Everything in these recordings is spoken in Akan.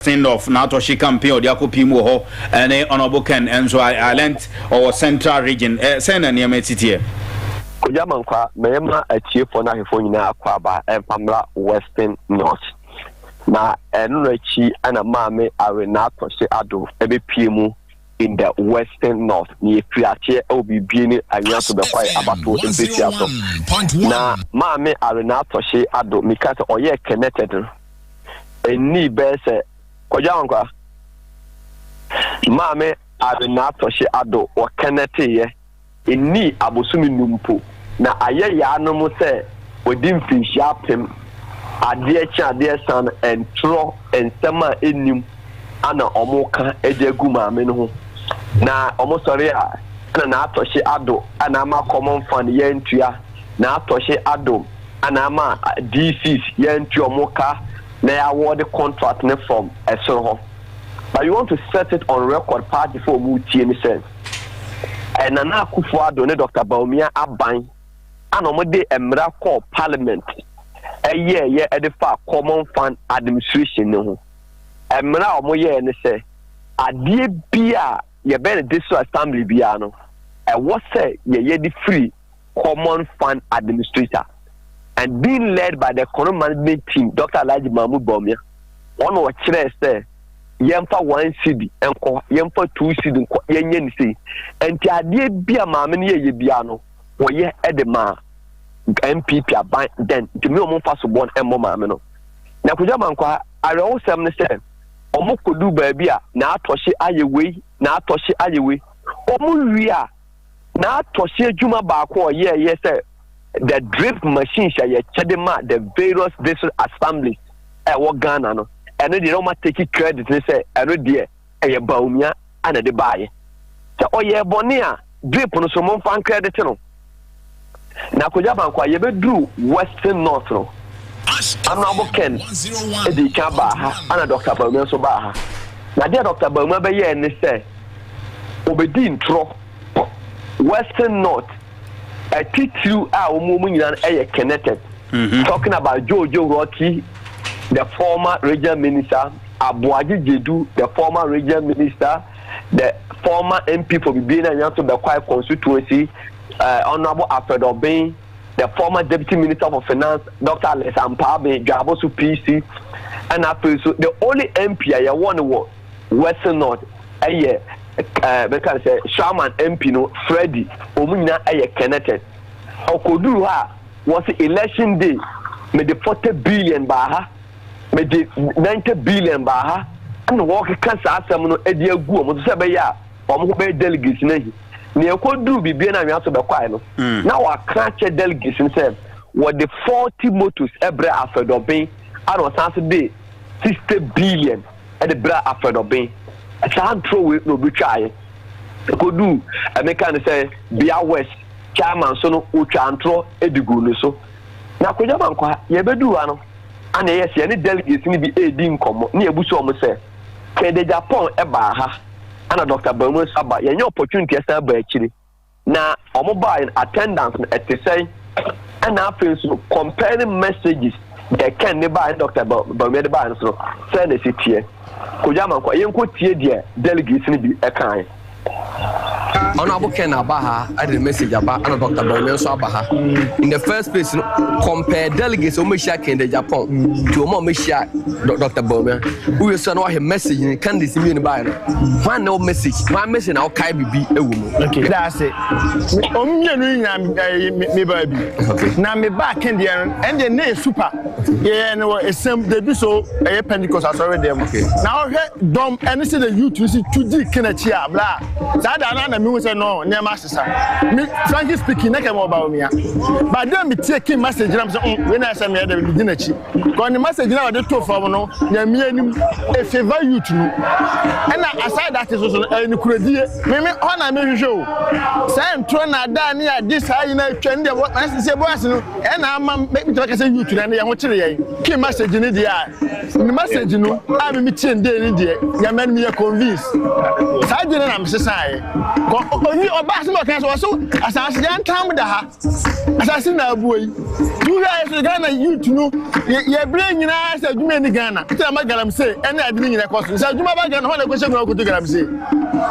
Sindorf n'atɔhye campaign a ɔde akɔ pii mu wɔ hɔ ne Honourable Ken nso I I learnt ɔwɔ central region ɛ sɛn na nneɛma si teɛ? Kojo Amankwah, Mɛyɛ ma atiefoɔ no ahwɛfoɔ nyinaa akwaaba mfa mmra Western North. Na ɛno no akyi na Maame Awe N'atɔhye Addo bɛpue mu in the Western North. Na yɛfiri aseɛ wɔ Bibie ne Anwea so bɛkɔe Abatoɔ Mpesua so. Na Maame Awe N'atɔhye Addo, meka sɛ ɔyɛɛ connected no. Ennii bɛyɛ sɛ Kwadwo Ankwa, Maame Arenatɔhye Addo wɔkɛnɛteeɛ nnii abosome nnum mpo, na ayɛ yaa no mo sɛ wɔadi mfirinhyia apem, adeɛ kye adeɛ sa no ɛntorɔ nsɛm a ɛnnim ana wɔka de agu maame no ho, na wɔsɔre a ɛna Naatɔhye Addo ana ama kɔmɔnfan yɛantua Naatɔhye Addo. ana ama DCs yɛantu ɔmo ka na yɛ awɔɔde contract no from ɛsoro hɔ but we want to set it on record party fo ɔmo tie ne sɛ ɛyɛ Nana Akufo Addo ne Dr Bawumia aban ana ɔmo de mmara kɔɔ parliament ɛyɛɛ yɛ ɛde fa common fund administration no ho mmara a ɔmo yɛɛ ne sɛ adeɛ bi a yɛbɛn no district assembly biara no ɛwɔ sɛ yɛyɛ de firi Common Fund Administrator and being led by the Kono Management Team, Dr. Alhaji Mahmoud Bawumia, wɔn na wɔkyerɛɛ sɛ yɛmfa one cedi nkɔ, yɛmfa two cedi nkɔ, yɛnyɛ ne sei. Nti adeɛ bi a maame no yɛyɛ biara no, wɔyɛ de maa NPP aban dɛn nti me wɔn mfa so bɔ no mmɔ maame no. Na Kwadwo Amankwa, awerɛhosɛm ne sɛ, wɔn kɔdu baabi a na atɔhye ayɛ wei, na atɔhye ayɛ wei, wɔn wie a, N'atɔhyɛ adwuma baako a ɔyɛe yɛ sɛ the drip machines a yɛkyɛde ma the various district assemblies a ɛwɔ Ghana no, ɛno deɛ na wɔn ateki credit ne sɛ ɛno deɛ ɛyɛ Bawumia na ɛde baeɛ. Sɛ ɔyɛɛ bɔne a, drip no so momfa ncredit no. Na akonnwa baako a yɛbɛduru Western North no, Honourable Ken dii kan baa ha, ɛna Dɔkta Bawumia nso baa ha. Na adeɛ a Dɔkta Bawumia bɛyɛɛ ne sɛ, ɔbɛdii ntorɔ Western North atitiriw a wɔn wɔn nyinaa yɛ connected. Mm-hmm. Talking about Jojo Rocky, the former regional minister, Aboagye Jedu, the former regional minister, the former MP for Bibiani and Yanso Bekwai constituency, eh, Honorable Alfred Obeng, the former Deputy Minister for Finance, Dr. Alex Ampaabe, Dwaboso PC, and afei so the only MP a yɛwɔ no wɔ Western North ɛyɛ ɛɛ bɛka sɛ Shaman MP no Freddy, wɔn nyinaa ɛyɛ connected. Ɔkɔduru hɔ a wɔsi election day, mede forty billion baa ha, mede ninety billion baa ha, ɛna wɔkeka saa asɛm no ɛde agu wɔn so sɛ ɛbɛyɛ a. wɔn ho bɛyɛ delegates no ahi na yɛkɔduru biribia no anwea so bɛkwae no mm. na wɔaka akyɛ delegates no sɛ wɔde forty motos brɛ afɛdɔben a na ɔsan so de sixty billion de brɛ afɛdɔben saa ntorɔ wei na obi twaeɛ ɛkɔduu ɛmeka no sɛ bia west chairman so no wɔtwa ntorɔ de gu no so na akɔgya ma nkɔ ha yɛbɛduu ha no ana ɛyɛ sɛ yɛne delegates no bi ɛredi nkɔmmɔ ne yɛbu so ɔmo sɛ kɛde japan ɛbaa ha ɛna Doctor Baamu nso aba yɛnyɛ opportunity ɛsan ba akyiri na wɔn baa yɛn attendance no ɛte sɛn ɛna afei nso comparing messages deɛ Ken de baa yɛn Doctor Baamu de baa yɛn nso sɛn na ɛsi teɛ kojú amankwa yɛn kɔ tie deɛ delegates no bi ɛka yɛn. ɔno abo ken aba ha ɛde ne message aba ɛna dr bɔnmi nso aba ha in the first place no compare delegates wɔn ahyia ken de japan to wɔn a wɔn ahyia dr bɔnmi. Wowie so a na wɔahwɛ message no, candidates no mmienu baeɛ no, hwan na ɛwɔ message, hwan message na wokae biribi wɔ mu? Okay. Meda ase. Me, wɔn mmienu no nyinaa me- ɛyɛ me- me baa bi. Okay. Na me baa Ken deɛ no, ɛndeɛ na ɛyɛ super. Yɛyɛ no wɔ Esem, they do so, ɛyɛ Pentecost asɔre deɛ mu. Okay. Na wohwɛ dɔm ɛne sɛ the youth no si tu di Ken akyi a, bla. Saa da no a na mehu sɛ no, nneɛma asesa. Me, frankly speaking, na kɛ mewɔ Bawumia. But then metie Ken message na mesɛ, mm, wei na ɛsɛ meyɛ dɛ, medi n'akyi. Kɔ ne message na ɔde to fam no nyamia nim e favor youth no ɛna aside that nso so no ɛyɛ ne kuradie. Me me hɔ na me hwehwɛ o saa nturo na adaa ne ade saa nyina atwa ne deɛ wɔ ɛsɛ sɛ boys no ɛna ama me tɛ bɛka sɛ youth no ɛna yɛn ho kyere yɛn ke message ne deɛ a ne message no a me me tie ndee ne deɛ nyamia no me yɛ convince saa deɛ ne na me sesaeɛ kɔ obi ɔbaa sɛ ɔka sɛ ɔso asase yɛn ntam da ha asase na abuo yi wohwɛ ayɛ sɛ ghana youth no yɛberɛ nyinaa sɛ adwuma ni ghana sɛ ma galamsey ɛne ade no nyina kɔ so sɛ adwuma ba ghana hɔ na ɛkɔhyɛ mu akoto galamsey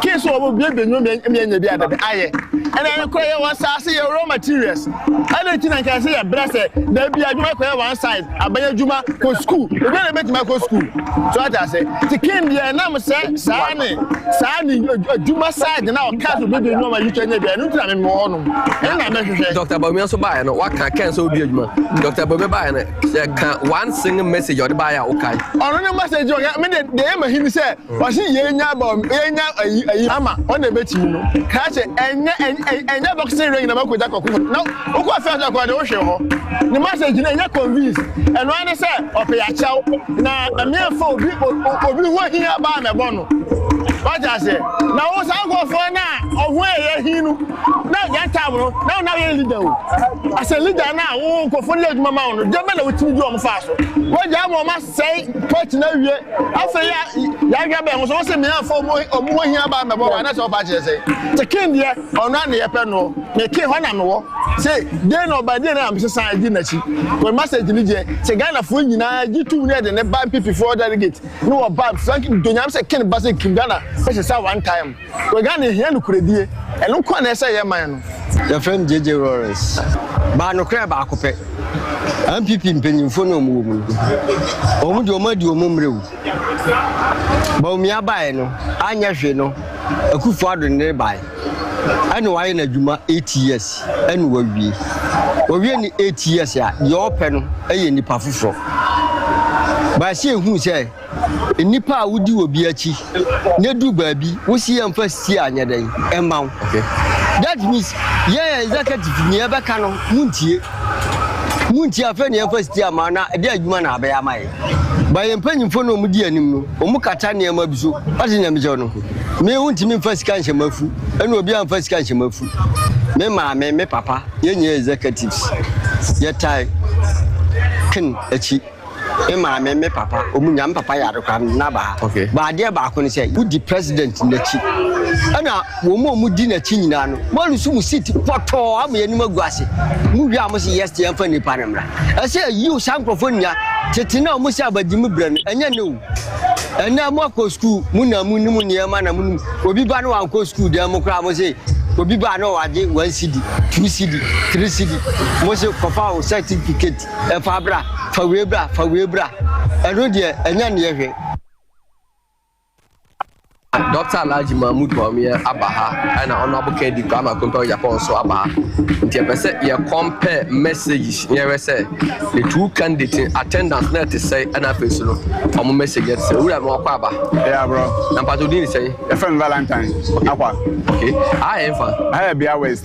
kee sɛ wɔbɔ bie bɛnwuma mianya bi adada ayɛ ɛna ɛne korɔ yɛwɔ asase yɛwɔ raw materials ɛna ɛti na nkae sɛ yɛbrɛ sɛ daabi adwuma kɔyɛ one side Abɛyɛ adwuma, kɔ sukuu. Obiara na ebetumi akɔ sukuu. So ate ase? Te Ken deɛ ɛnam sɛ saa ne saa ne adwuma side na ɔka so bebe nneɛma yi twɛ nyɛ bi. Ɛno ntina memmɔ hɔ nom. Ɛno na mɛhwehwɛ. Dr. Bawumia nso baeɛ no, waka Ken sɛ ɔdi adwuma. Dr. Bawumia baeɛ no, ka one single message a ɔde baeɛ a wokae. Ɔno ne message ɔka. Me deɛ deɛ ɛyɛ m'ahi ne sɛ. Ɔse yɛnya bɔm yɛnya ayi ayi ama ɔna ɛbɛtumi no kaa sɛ ɛnyɛ ɛnyɛ boxing ring na makɔgya kɔko fam na wokɔ fɛ sɛ kɔɔ de wohwe hɔ ne message no ɛnyɛ convince ɛno ara ne sɛ ɔpɛ yɛakyɛw na ɛmeɛmfa obi obi ho hia baa mɛbɔ no wagye aseɛ na wo saa nkurɔfoɔ no a ɔho ɛyɛ hi no na yɛn time no na wona yɛ leader o asɛ leader no a wo nkurɔfoɔ no yɛ adwuma ma wo no deɛ bɛ na wotumi di wɔn faa so wagya ama wɔn Sɛe pɔt no awie. Afei ya yɛahwɛ bɛn ho so wɔsɛ mmea afɔ ɔmo ɔmo ho hia baa mɛbɔ wa anasɛ ɔfa kyerɛ sɛn. Te kin deɛ ɔno a ne yɛpɛ no me kin hɔ na me wɔ. Se den na ɔba den na me sesan edi n'akyi. Wɔn message ne deɛ sɛ Ghana foɔ nyinaa gye tum ne yɛde ne ba npp foɔ delegate ne wɔ ba frank donyam sɛ kin ba sɛ kin Ghana bɛsesa one time. Ghana hia nokoredie, ɛno nkoa na ɛsɛ yɛ man no. Yɛfrɛ me JJ Lawrence. Baa nokorɛ baako pɛ. NPP mpanyinfoɔ no a wɔn wɔ mu no, wɔn deɛ wɔn adi wɔn mmerɛ o. Bawumia baeɛ no, anyɛ hwee no, Akuffo Addo no de baeɛ. Ɛna wayɛ n'adwuma eight years ɛna wawie. Wawie ne eight years a, deɛ ɔpɛ no yɛ nipa foforɔ. Baasi ehuu sɛ. Nnipa a wodi obi akyi na edu baabi wosi yɛn mfa si a nyɛ dɛn mma wo. That means yɛn yɛ executive nea ɛbɛka no muntie. Muntie afei na yɛmfa si ama na ɛde adwuma na abɛyɛ ama yɛn. Ba yɛn mpanyimfo na wɔn di anim no wɔn kata nneɛma bi so ɔde nea mekyɛ no me wontumi mfa sika nhyɛ m'afu ɛna obi amfa sika nhyɛ m'afu me maame me papa yɛn nyɛ executives yɛtae ken akyi. Me maame ne me papa, wɔn nya me papa yare koraa no, na ba ha. Okay. Ba adeɛ baako ne sɛ, wodi president n'akyi. Ɛna wɔn a wɔdi n'akyi nyinaa no, wɔn nso mu seat pɔtɔɔ ama yɛn anim agu ase. Mu wie a wɔn sɛ yes te yɛmfa nipa no mmra. Ɛsɛ yiw saa nkurɔfoɔ nya tete na wɔn sɛ abagye mu brɛ no, ɛnyɛ ne o. Ɛnɛ mo akɔ sukuu, mo na mo nim nneɛma na mo nim. Obi ba na wankɔ sukuu dan mu koraa, mo sɛ obi ba na wagye one cedi, two cedi, three cedi, mo sɛ kɔfa wo certificate. Fa bra, fa wei bra, fa wei bra. Ɛno deɛ ɛnyɛ nneɛ hwee. Dɔkta Alhaji Mahmood Bawumia aba ha ɛna Honorable Kennedy Kwame Akompɛ Ogyapɔn nso aba ha nti ɛpɛ sɛ yɛ compare messages na yɛhwɛ sɛ the two candidates in attendance na ɛte sɛ ɛna afei nso no wɔn message ɛte sɛ owura no akɔ aba. ɛyɛ aborɔ. na mpatɛ odin ne sɛn. yɛfrɛ no Valentine akwa. okay aha yɛ nfa. aha yɛ bea west.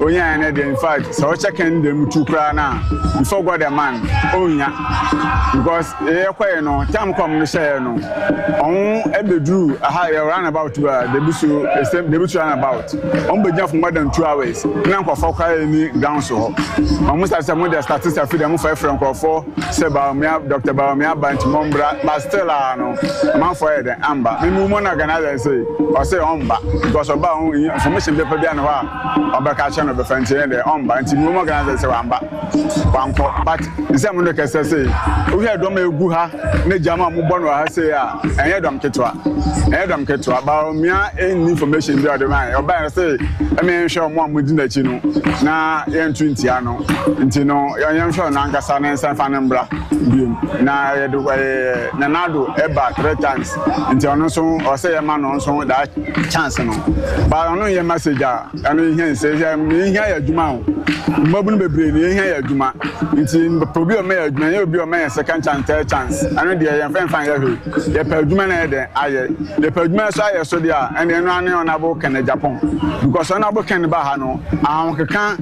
Onyae no deɛ infact sɛ ɔkyɛ kɛn dɛ mu tu koraa no a before God a man ɔnnya because yɛyɛ kɔɛ no tam kɔm no hyɛɛ no ɔho ɛbɛduru aha yɛ run about a debi so ɛsɛ debi so run about ɔmo bɛgyina for more than two hours na nkorɔfoɔ koraa yɛ ni ground so hɔ ɔmo sa sɛ mo deɛ statistics afi deɛ mo fɛfrɛ nkorɔfoɔ sɛ baomia Dr. baomia ba nti mo mbra but still a no Amanfoɔ ayɛ dɛn amba? Me mum na Gana ayɛ sei? Ɔsee ɔmba because ɔba a ɔho hia information bɛfa bia ne hɔ a ɔbɛka akyerɛ no ɔbɛfa nti ɛyɛ dɛn ɔmba nti mum ɔgana sɛ sɛ wamba wankɔ but nsɛm no kɛsɛ sei wohwɛ dɔm a ɛgu ha ne gyama a mobɔ no wɔ ha sei a ɛnyɛ dɔm ketewa ɛnyɛ dɔm ketewa ba ɔmia ɛnni information bi a ɔde ma ɔba yɛ se ɛmɛ yɛnhwɛ ɔmo a modi n'akyi no na yɛnto ntia no nti no yɛnhwɛ ɔno ankasa ne nsa fa ne mbra biom na yɛde wɔyɛ Nanado ɛba three times nti ɔno nso ɔsɛ yɛ ma no nso that chance no ba ɔno yɛ message a ɛno yɛ hɛn sɛ yɛ hia yɛ adwuma o mmabunu bebree no yɛ hia yɛ adwuma nti obi ɔma yɛ adwuma yɛ obi ɔma yɛ second chance third chance ɛno deɛ yɛn fɛn fan yɛ hwɛ yɛ pɛ adwuma na yɛ dɛ ayɛ yɛ pɛ adwuma nso ayɛ so deɛ ɛna ɛno ano ɔnabo kɛn na Japan because ɔnabo kɛn ba ha no ahokeka.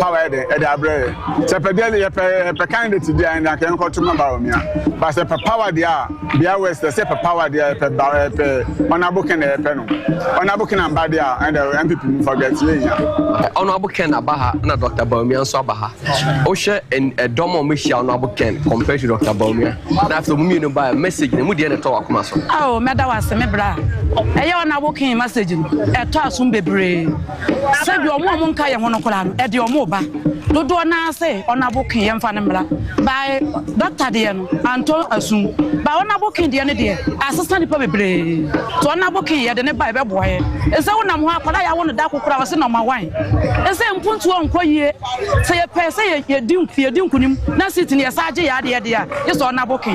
Power yɛ dɛn ɛde abrɛ yɛ. Sɛ pɛ deɛ yɛpɛ yɛpɛ candidate deɛ ɛnde anka yɛnkɔ to ma Bawumia. Ba sɛ pɛ power deɛ a Bia West ɛsɛ pɛ power deɛ ɛpɛ ba ɛpɛ Honourable Ken deɛ ɛpɛ no. Honourable Ken amba deɛ a ɛnde NPP mu fa gɛt yɛ hia. Honourable Ken aba ha na Doctor Bawumia nso aba ha. Wohwɛ ɛdɔm a wɔn ahyia Honourable Ken compared to Doctor Bawumia na afei wɔn mmienu ba message no mu deɛ na ɛtɔ wakoma so. Ao mɛda wase me bra. Ɛyɛ Honourable Ken message no ɛtɔ asom bebree. Sɛdeɛ wɔn a wɔnka yɛn ho no koraa no, ɛde wɔn reba. Dodoɔ no ara se ɔnabo ke yɛmfa no mmra. By doctor deɛ no, antɔ asum. By ɔnabo ke deɛ no deɛ, asesa nnipa bebree. Nti ɔnabo ke yɛde no ba a, ɛbɛboa yɛn. Ɛsɛ wonam hɔ, akwadaa a yɛawo no da koro koraa, wɔse nɔma wan. Ɛsɛ mpuntuo nkɔ yie. Sɛ yɛpɛ sɛ yɛdi nkunim na seat no yɛsan gye yɛn adeɛ deɛ a, gye sɛ ɔna boke.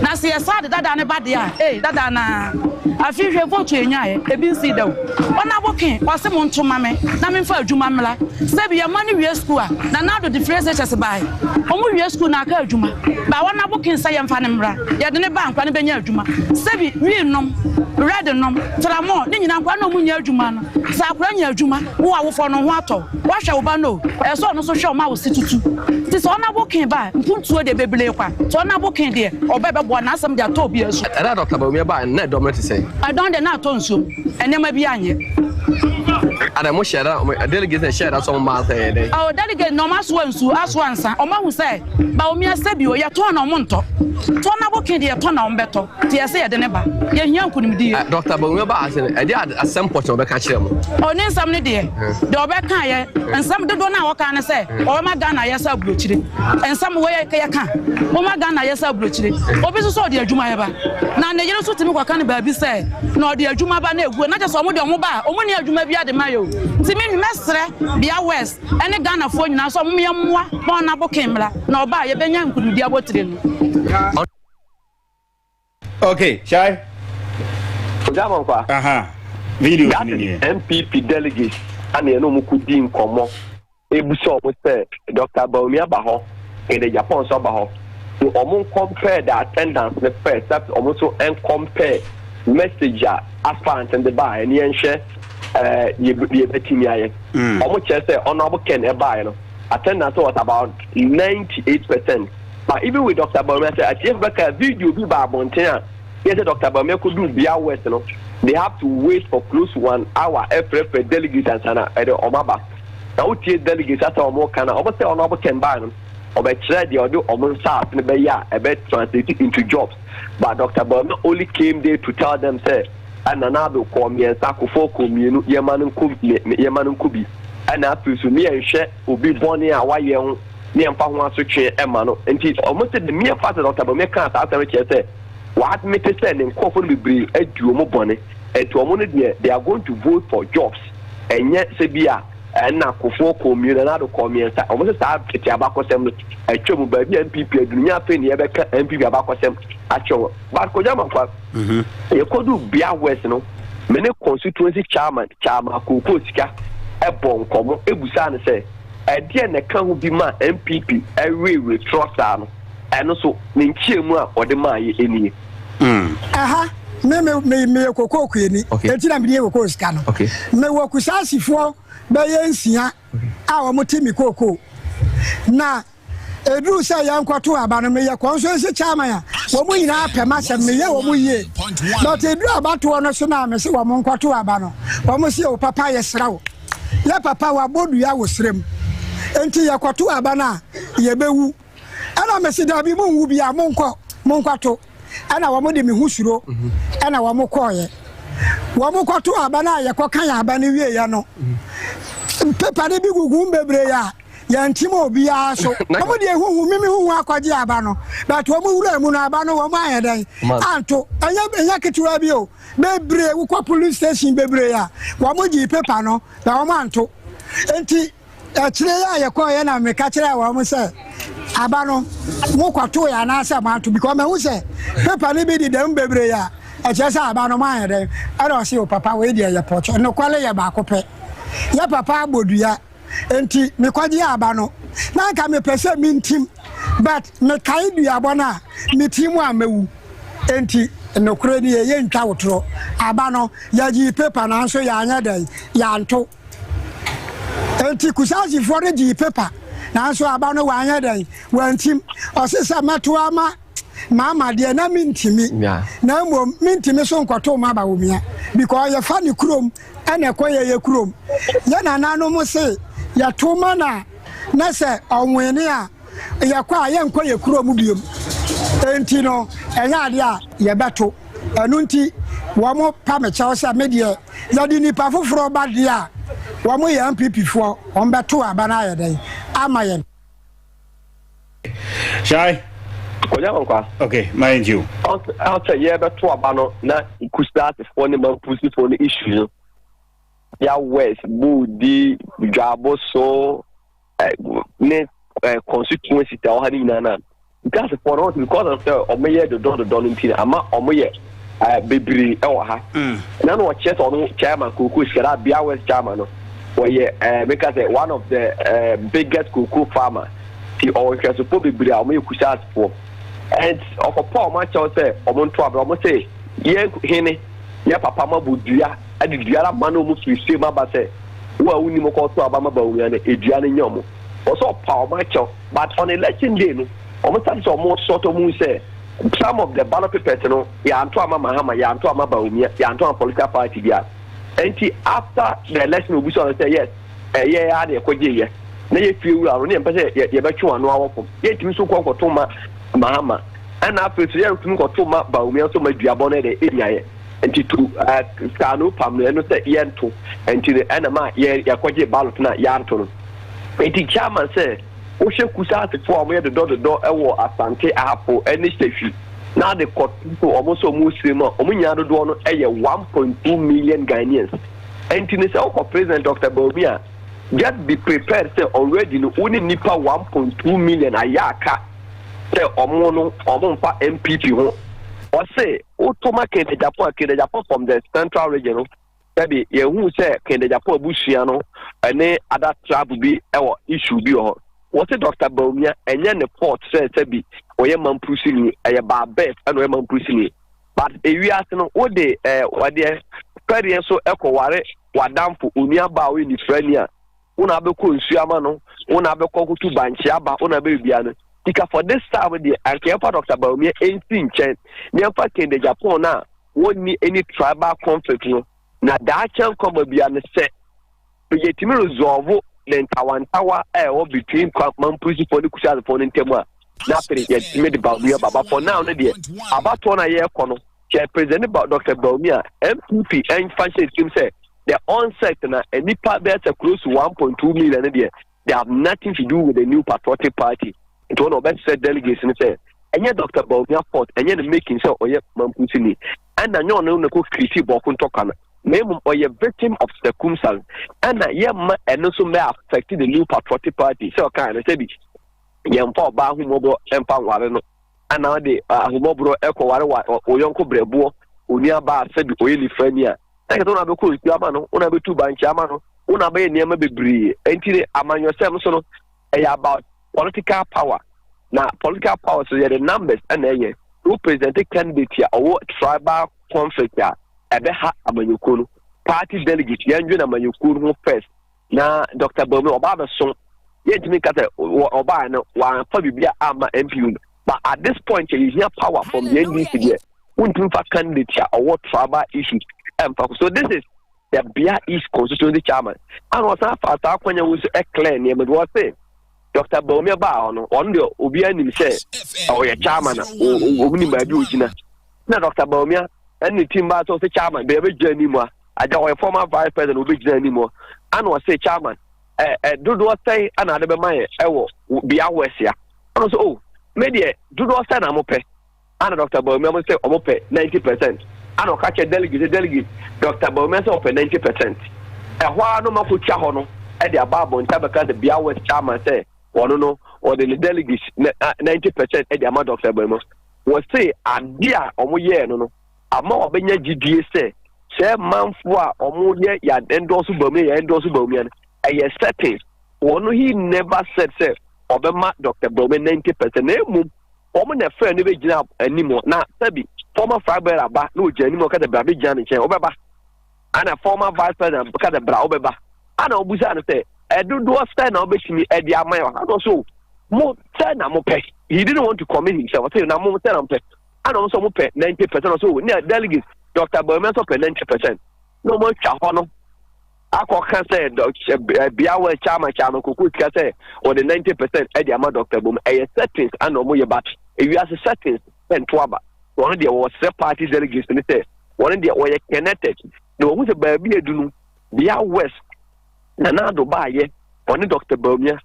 Na sɛ yɛsan de dadaa no ba deɛ a, ee, dadaa no ara. Afei hwɛ vote a yɛnyaeɛ, ebi nsii da o. Ɔna boke, ɔse monto mma me na memfa adwuma mmra. Sɛ bi yɛn mma no wie sukuu a, Nana Addo de firi SHS baae. Wɔwie sukuu na aka adwuma. But ɔna boke nsɛ yɛmfa no mmra. Yɛde no ba a, nkwadaa no bɛnya adwuma. Sɛ bi, wii nom, red nom, tramɔɔ, ne nyinaa nkwadaa no a wɔnyɛ adwuma no. Sɛ akwadaa nya adwuma, wo awofoɔ no, wo ho atɔ wo. Woahwɛ wo ba no o, ɛsɛ sɛ ɔno nso hwɛ wo ma wo se tutu. Nti sɛ ɔnabo kee ba a, mpuntuo deɛ, bebree kwa. Sɛ ɔnabo kee deɛ, ɔba a ɛbɛboa no, n'asɛm deɛ, atɔ obiara su. Ɛda a Dɔkta Bawumia baeɛ no, na ɛdɔm no te sɛn? Ɛdɔm deɛ, na atɔ nsuo mu. Nneɛma biara anyɛ. Adɛn, mohyɛɛ da, delegates no hyɛɛ da sɛ wɔmma ansa yɛɛ dɛn? Oo, delegates no, wɔasoa nsuo, asoa nsa. Wɔahu sɛ Bawumia sɛ bi o, yɛtɔn na wɔntɔ. Sɛ ɔnabo kee deɛ, yɛtɔ na wɔbɛtɔ. Nti ɛsɛ yɛde ne ba. Yɛhia nkonimdie. Ɛ Dɔkta Bawumia baa ha sɛ no, ɛdeɛ ade asɛm pɔtee na ɔbɛka kyerɛ mo? O ne nsɛm no deɛ, deɛ ɔbɛkaeɛ, nsɛm dodoɔ no a ɔkaa ne sɛ ɔbɛma Ghana ayɛ sɛ aburokyire. Nsɛm wei a yɛka, moma Ghana ayɛ sɛ aburokyire. Obi nso sɛ ɔde adwuma yɛ ba, na ne yere nso tumi kɔka no baabi sɛ na ɔde adwuma ba na ɛguo, na kyerɛ sɛ wɔn deɛ wɔn ba a, wɔnni adwuma biara de ma yɛ o. Nti me mɛsrɛ Bia West ne Ghanafoɔ nyinaa sɛ wɔn yɛmmoa ma Honourable King mmra na ɔba a yɛbɛnya nkonimdie abotire no. Okay, Shai. Ojamonkwa. Aha. Video that is NPP delegates and you know muku di nkomo. Ebu so omo say Dr. Baumia ba ho and the Japan so ba ho. So omo compare the attendance the first that omo so and compare message a aspirant and the bar and yen share uh ye ye betimi aye. Omo che say honorable Ken e ba no attendance was about 98% But even with Doctor Bawumia sɛ atiefo bɛka video bi ba abɔnten a yɛ sɛ Doctor Bawumia kodu Bia West no they have to wait for close to one hour ɛfrɛfrɛ delegates ansa na ɛde wɔn aba na wotie delegates asɛ wɔn ka na wɔn sɛ wɔn abo kɛmbaa no ɔbɛkyerɛ deɛ ɔde wɔn nsaase no bɛyɛ a ɛbɛ translate into jobs but Doctor Bawumia only came there to tell them sɛ ɛna na ado kɔɔ mmiɛnsa kofo kɔɔ mmienu yɛma no nko yɛma no nko bi ɛna afei so ne yɛnhwɛ obi bɔne a wayɛ ho ne ɛmfa ho asotwe mma no. Enti wɔse The Mere Fact sɛ Dɔkta Bawumia kaa saa asɛm no kyerɛ sɛ wɔadmete sɛ ne nkurɔfo no bebree adi wɔn bɔne. Enti wɔn no deɛ they are going to vote for jobs ɛnyɛ sɛ bi a ɛna Kufuor kɔɔ mmienu anaa Addo kɔɔ mmiɛnsa. Wɔn se saa tete abakɔsɛm no atwa mu, baabi a NPP aduru nyɛ afei na yɛbɛka NPP abakɔsɛm akyerɛ wɔn. But Kojo Amankwah, mm-hmm. yɛkɔduu Bia West no, me ne constituency chairman Chairman Kookoo Sika ɛbɔ nkɔmmɔ ɛbusaa no sɛ, Ɛdeɛn na ɛka ho bi maa NPP wereweree torɔ saa no? Ɛno nso, ne nkyeamu a wɔde maaeɛ nie. Aha, me me me meyɛ kokoo kuani, enti na medi kokoo sika no. Mewɔ Kusaasifoɔ bɛyɛ nsia a wɔte me kokoo, na Eduru sɛ yɛnkɔtow aba no, meyɛ kɔn so se Chairman a, wɔn nyinaa pɛ m'asɛm, meyɛ wɔn yie. But eduru abatoɔ no so no a, mese wɔn nkɔtow aba no, wɔn se o papa yɛsrɛ wo, yɛ papa wabɔ dua wo serɛ mu, enti yɛkɔtow aba no a, yɛbɛwu. Ɛna mese daabi monwu biara, monkɔ, monkɔtow. Ɛna wɔn de me ho suro, ɛna wɔn kɔeɛ. Wɔn kɔtow aba no a yɛkɔkan aba no wieeɛ no, paper no bi gugu mu bebree a, yɛnkyem obiara so wɔn deɛ huhu mimi huhu akɔgye aba no but wɔn wura mu no aba no wɔn ayɛ dɛn anto ɛnyɛ ɛnyɛ ketewa bi o bebree wokɔ police station bebree a wɔn gye paper no na wɔn anto nti akyire yɛ a yɛkɔ yɛ na meka kyerɛ wɔn sɛ aba no mo kɔto yɛ anaasɛ mo anto because mahu sɛ paper no bi deda mu bebree a ɛkyerɛ sɛ aba no mo ayɛ dɛn ɛna ɔse o papa wei deɛ yɛ pɔtɔ nokwale yɛ baako pɛ yɛ papa abɔ dua Enti mekɔgyee aba no. Na anka mepɛ sɛ mintim, but mekae duabɔ no a, mitiim a mɛwu. Enti nokorɛ nie, yɛntwa wo torɔ. Aba no, yɛgyee paper nanso yɛanyɛ dɛn? Yɛanto. Enti Kusaasifoɔ no gyee paper nanso aba no wanyɛ dɛn? Wantim. Ɔse sɛ mɛto ama Mama deɛ na mentimi na mmom mentimi so nkɔtoo maba wɔ mia because yɛfa ne kurom ɛna ɛkɔ yɛyɛ kurom yɛ nananom se yɛto ma na na sɛ ɔwene a yɛkɔ a yɛnkɔ yɛ kurom biom enti no ɛnyɛ adeɛ a yɛbɛto ɛno nti wɔn pa me kyɛw sɛ me deɛ yɛde nipa foforɔ ba deɛ a wɔn yɛ mpp foɔ wɔn bɛto aba no ayɛ dɛn ama yɛn Shai. Konya Kwankwa. Okay, ma yɛn gye o. Ɔsɛ yɛbɛto aba no na Kusaatefoɔ ne Mampusifoɔ no issue no. Ya West, Bodi, Dwaboso, eh, ne eh, constituency ta ɔha ne nyinaa na Kusaatefoɔ no because of sɛ ɔmo yɛ dodɔ dodɔ no nti ama ɔmo yɛ eh, bebree wɔ ha mm. na na ɔkyerɛ sɛ ɔno chairman koko sika na abia west chairman no wɔyɛ eh, meka sɛ one of the eh, biggest koko farmer ti ɔwɔ nhwɛsofoɔ bebree a wɔyɛ kusa asefoɔ and ɔkɔpɔ a wɔn akyɛw sɛ wɔn nto abira wɔn sɛ yɛn hene yɛ papa ma bɔ dua ɛde dua ara ma na wɔn firi sɛ mu aba sɛ wo a wonim kɔ to aba ma ba wɔn ano edua no nyɛ wɔn wɔsɛ ɔpa wɔn akyɛw but on election day no wɔn sase sɛ wɔn sɔtɔ mu sɛ. Some of the ballot papers no yɛanto ama Mahama, yɛanto ama Bawumia, yɛanto ama political party biara. Nti after the election obi sɔre sɛ yes ɛyɛ ara na yɛkɔgye yɛ na yɛ fie wura no ne yɛmpɛ sɛ yɛbɛtwe wɔn ano awɔ fam. Yɛntumi nso nkɔ nkɔto ma Mahama ɛna afei nso yɛntumi nkɔto ma Bawumia nso ma duabɔ no yɛ dɛ ɛnya yɛ. Nti to uh, saa no pam no ɛno sɛ yɛnto nti no ɛna ma yɛkɔgye ballot no a yɛanto no. Nti chairman sɛ Wohwɛ Kusa asefo a wɔyɛ dodɔdodɔ wɔ Asante, Ahafo ne Sefwi na de kɔto wɔn sɛ wɔresere mu a, wɔn nyinaa dodoɔ no yɛ 1.2 million Ghanaians. Ɛnti no sɛ wokɔ President Dr. Bawumia a, just be prepared sɛ already no wo ne nnipa 1.2 million ayɛ aka sɛ wɔn no wɔn mfa NPP ho. Ɔse, woto ma Kentejapon a, Kentejapon from the central region no. Dabi, yɛnhuu sɛ Ken Dagyapong abusua no ne ada trab bi wɔ issue bi wɔ hɔ. Wɔse Dɔkta Bawumia, ɛnyɛ ne fault sɛ sɛbi ɔyɛ Mampruhsini, ɛyɛ baa birth na ɔyɛ Mampruhsini. But ewiase no, wode eh, wadeɛ, fɛdeɛ nso kɔware w'adamfo, onuabaa a ɔyɛ nifirani a, wo na abɛkɔ nsuo ama no wo na abɛkɔ kotu bankye aba wo na bɛbia no tika for this time deɛ anka yɛmfa dr baomia ɛnsi nkyɛn na yɛmfa kende japan no a wɔnni any tribal conflict no na daakyɛ nkɔma bia no sɛ yɛtumi resolve ne ntawantawa a ɛwɔ between mampusifoɔ ne kusasefoɔ no ntam a na afei yɛtumi de baomia baba for now no deɛ abatoɔ no a yɛrekɔ no Kyɛ President no ba Dr. Bawumia, NPP mfa nhyɛ ne tirim sɛ the onset na nnipa bɛyɛ sɛ close to 1.2 million deɛ they have nothing to do with the new patriotic party nti wɔn na wɔbɛsrɛ delegates no sɛ ɛnyɛ dr baomia fort ɛnyɛ ne making sɛ ɔyɛ mampusini ɛna nyɛ ɔno na kɔ kiriti bɔɔko ntɔkwa no na mmom ɔyɛ victim of circumstance ɛna yɛmma ɛno nso mɛ affect the new patriotic party sɛ ɔka ɛno sɛ bi yɛmfa ɔbaa ho mmɔbɔ mfa nware no Ana ɔde ahummɔborɔ kɔware wa wo yɔnko berɛboɔ, onua baa sɛbi ɔyɛ nifrani a, na kyɛ sɛ wo na bɛkɔ nsuo ama no, wo na bɛtu bankye ama no, wo na bɛyɛ nneɛma bebree. Ɛnti ne amanyɔsɛm so no, ɛyɛ about political power. Na political power so yɛde numbers na ɛyɛ. Wo presidente candidate a ɔwɔ tribal conflict a, ɛbɛha amanyɔkuo no. Party delegate, yɛndwene amanyɔkuo no ho first. na dɔkta baa mu ɔbaa bɛso yɛntumi nka sɛ ɔbaa no wɔamfa biribi a ama mpu but at this point yɛhia power from the ndc deɛ wontumi fa candidate a ɔwɔ tribal issues ɛmfa so this is the bia east constituency chairman ana ɔsan fa saa akwanya wo so ɛclear nneɛma bi wɔse Doctor Bawumia baa hɔ no, ɔno deɛ obiara nim sɛ ɔyɛ chairman a wɔn nim baabi ogyina. Na Doctor Bawumia ɛne ne team baa sɛ ɔsɛ chairman baabi bɛgyina anim a, agya ɔyɛ former vice president obɛgyina anim hɔ, ana ɔsɛ chairman ɛ ɛ dodoɔ sɛn ana ade bɛma yɛ ɛwɔ bia wɛsia. Ɔno sɛ o, oh, me deɛ dodoɔ sɛn na mo pɛ. Ana Doctor Bawumia mo sɛ ɔmo pɛ ninety percent ana ɔka kyerɛ delegate sɛ delegate Doctor Bawumia sɛ ɔpɛ ninety percent ɛhɔ ara no mako twa hɔ no ɛde aba abɔnten abɛka sɛ Bia West chairman sɛ ɔno no ɔde ne delegate ninety percent ɛde ama Doctor Bawumia wɔse ade a ɔmo yɛɛ no no ama wɔbɛnya gyidie sɛ sɛ manfo a ɔmo yɛ yɛ endorse Bawumia yɛ endorse Bawumia no ɛyɛ certain wɔn he never said sɛ ɔbɛma Doctor Bawumia ninety percent na emu wɔn na ɛfrɛ no bɛgyina anim na sɛbi former flag bearer ba na ɔgyina anim ɔka sɛ bra bɛgyina me nkyɛn wobɛba ana former vice president ka sɛ bra wobɛba ana ɔbusa no sɛ ɛdodoɔ sɛ na wobɛtumi ɛde ama yɛ ɔha so mo sɛ na mopɛ he didn't want to commit himself ɔsɛ na mo sɛ na mopɛ ana ɔmo sɛ ɔmo pɛ ninety percent ɔsɛ o ne delegate dr bawumia nso pɛ ninety percent na ɔmo atwa hɔ no akɔka sɛ bea wɔ kyama kyama koko sika sɛ wɔde ninety percent ɛde ama dɔkta bom ɛyɛ settings ana wɔn yɛ but ewiase settings ɛnto aba wɔn deɛ wɔsrɛ party delegates ne sɛ wɔn deɛ wɔyɛ connected na wɔn sɛ baabi edu no bea west na n'ado baayɛ wɔne dɔkta baumia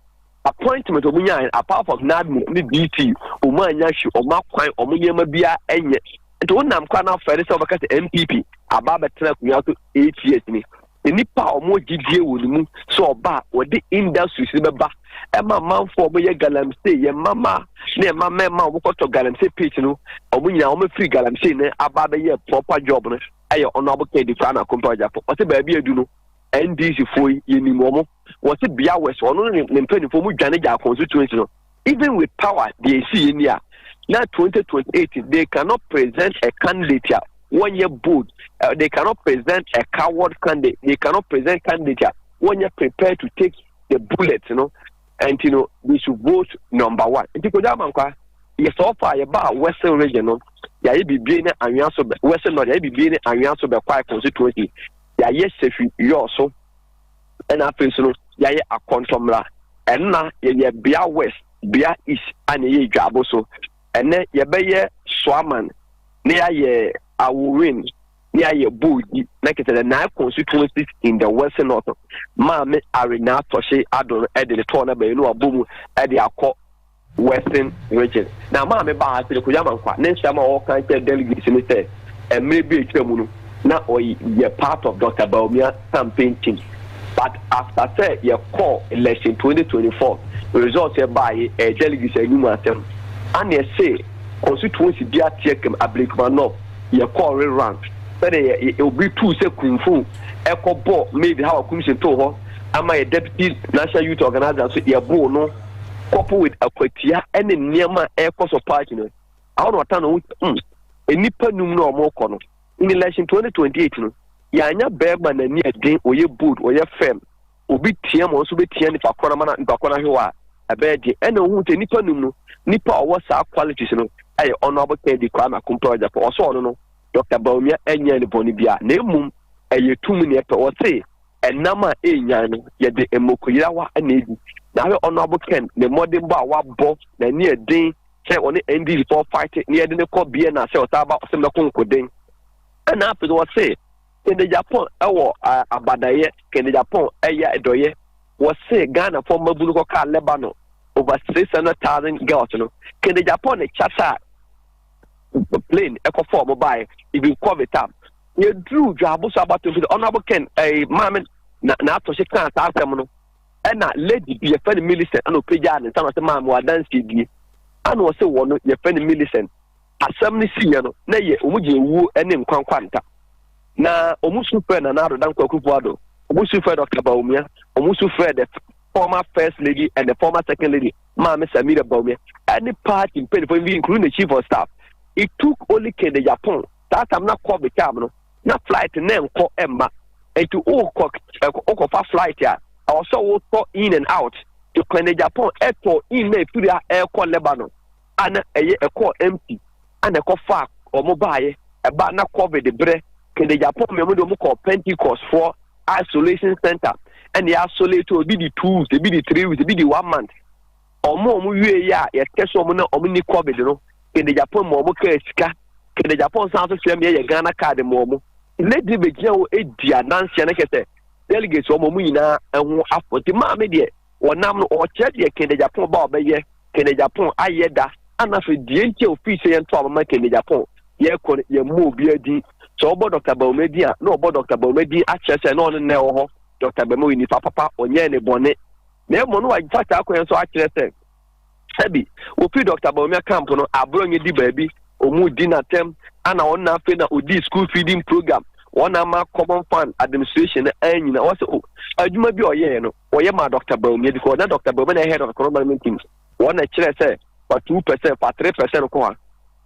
Appointment ɔmo nyaa yɛ apart from NADMO ne DT ɔmo anya hwi ɔmo akwan ɔmo nneɛma bia ɛnyɛ nti wo nam kora na afɛre sɛ ɔbɛka sɛ MPP aba abɛtena akonnwa so eight years ni nnipa a ɔmo gyidie wɔ ne mu sɛ ɔba a wɔde industries no bɛba ɛma manfo ɔmo yɛ galamsey yɛ mama ne ɛma mɛma ɔmo kɔtɔ galamsey page no ɔmo nyinaa ɔmo firi galamsey no aba abɛyɛ proper job no ɛyɛ ɔno abokɛ di kora na kɔmpa ɔgyafo ɔte baabi adu no NDC foɔ yi yɛnim wɔn wɔte bea west ɔno ne ne mpanimfoɔ mu dwane gyaa constituency no even with power deɛ ɛsi yɛ ni a na 2028 they cannot present a candidate a wɔnyɛ bold uh, they cannot present a coward candidate they cannot present candidate a wɔnyɛ prepared to take the bullet you know, and you know they should vote number one nti kò dáa mankwa yɛ sɔɔ fa yɛ ba western region no yɛ ayɛ bibie ne anwea so bɛ western north yɛ ayɛ bibie ne anwea so bɛ kwae constituency. yɛayɛ sɛfi Yɔɔ so ɛna afei nso no yɛayɛ akɔntɔmmra ɛna yɛyɛ bea west bea east a na ɛyɛ adwaabo so ɛnɛ yɛbɛyɛ soaman na yɛayɛ aworin na yɛayɛ boodi na kyerɛ sɛ the nine constituencies in the west north maame are na atɔhye adoro ɛde ne tɔɔ na bɛyɛ no abɔ mu ɛde akɔ Western Region. Na Maame baa ha, Seleko Yamankwah, ne nsɛm a ɔka kyerɛɛ delegates no sɛ mmerɛ bi a atwa mu no na ɔyɛ part of Doctor Bawumia campaign team but after sɛ yɛkɔɔ election 2024 results a ɛbaa yi ɛyɛ delegates anim asɛm ana ɛse constituency bi ateɛ kam Ablekuma North yɛkɔɔ re run sɛdeɛ yɛ obi tuu sɛ kumfo ɛkɔ bɔ maid hawa kumsin too hɔ ama yɛ deputy national youth organizer nso yɛboo no couple with akwatia ne nneɛma a ɛkɔ so party no awo na ɔta no ho mm nnipa num na wɔn kɔ no in election 2028 no yɛanya bɛrima n'ani ɛden ɔyɛ bold ɔyɛ firm obi tia ma ɔnso bɛtia nipa kɔ na ma nipa kɔ no ahwe hɔ a ɛbɛyɛ den ɛna ohun sɛ nipa num no nipa a ɔwɔ saa qualities no ɛyɛ honorable kennedy kwame akompɛ ɔgyapɔ ɔsɔ ɔno no dr baomia ɛnyɛ ne bɔne bia na mmom ɛyɛ tum ne ɛpɛ ɔse Ɛnam a ɛrenyan no, yɛde mmokoyerawa na edi. Na ahwɛ Honorable Ken ne mmɔdenbɔ a wabɔ n'ani ɛden sɛ ɔne NDCfoɔ fight na yɛde no kɔ Vienna sɛ ɔsan ba ɔsɛ mɛko nkoden. Ɛna afei no wɔse Kende Japan ɛwɔ abadayɛ, Kende Japan ɛyɛ ɛdɔyɛ. Wɔse Ghanafoɔ mmabunu kɔkaa Lebanon over 600,000 girls no. Kende Japan ne kyasa a. plane ɛkɔ fɔ ɔmo baayɛ even covid time yɛduru dwaabo so abato mpi ɔnabo ken ɛɛ maame na na ato hye kan saa asɛm no ɛna lady bi yɛfɛ no milicent ɛna ɔpagyaa ne nsa na ɔsɛ maame wadansie die ɛna ɔsɛ wɔ no yɛfɛ no milicent asɛm no siiɛ no na yɛ ɔmo gye ewuo ɛne nkwankwa nta na ɔmo su fɛ na na adoda nkwa kufu ado ɔmo su fɛ dɔkta baomia ɔmo su fɛ the former first lady and the former second lady Maame Samira Bawumia ne party mpanyinfoɔ bi including the chief of staff it took only kende Japan saa tam na covid time no na flight na nkɔ mma nti wokɔ wokɔfa flight a ɛwɔ sɛ wotɔ in and out to kende Japan ɛtɔ in na efiri a ɛkɔ Lebanon ana ɛyɛ ɛkɔ empty na ɛkɔfaa wɔn baeɛ. Ɛbaa na covid berɛ, kɛdɛ Japan mmienu deɛ wɔn kɔɔ Pentecost foɔ isolation center ɛna yɛ isolate ebi di two weeks, ebi di three weeks, ebi di one month. Wɔn a wɔn wie yɛ a yɛtɛ so wɔn na wɔn ni covid no, kɛdɛ Japan ma wɔn kaa sika, kɛdɛ Japan san so sɛ mmea yɛ Ghana card ma wɔn. Lady bɛgyina hɔ edi adanseɛ no kɛsɛ delegates wɔn wɔn nyinaa ho afɔ nti maame deɛ. Wɔnam no, ɔkyerɛ deɛ Kɛnde-Agyapong ba a ɔbɛyɛ Kɛnde-Agyapong ayɛ da ana afei deɛ nti a ɔfiri sɛ yɛnto aba ma Kɛnde-Agyapong yɛkɔ no yɛmmɔ obiara din. Sɛ wɔbɔ Dɔkta Bawumia din a, na wɔbɔ Dɔkta Bawumia din akyerɛ sɛ na ɔno na ɛwɔ hɔ. Dɔkta Bawumia ɔyɛ nipa papa, ɔnyɛɛ ne bɔne. Na mmom na wafa saa kwan yi so akyerɛ sɛ, Ebi, wofii Dɔkta Bawumia camp no, aborɔ nyɛ di baabi, wɔn di n'atɛm, ana wɔn na afei na ɔdii school feeding program, wɔn na ama common fund administration no anyina, wɔsɛ o, adwuma bi a ɔyɛɛ no, wɔyɛ maa Dɔkta Bawumia, because na Dɔkta Bawumia na head of economic management team, wɔn na kyerɛ sɛ fa two percent fa three percent kɔ ha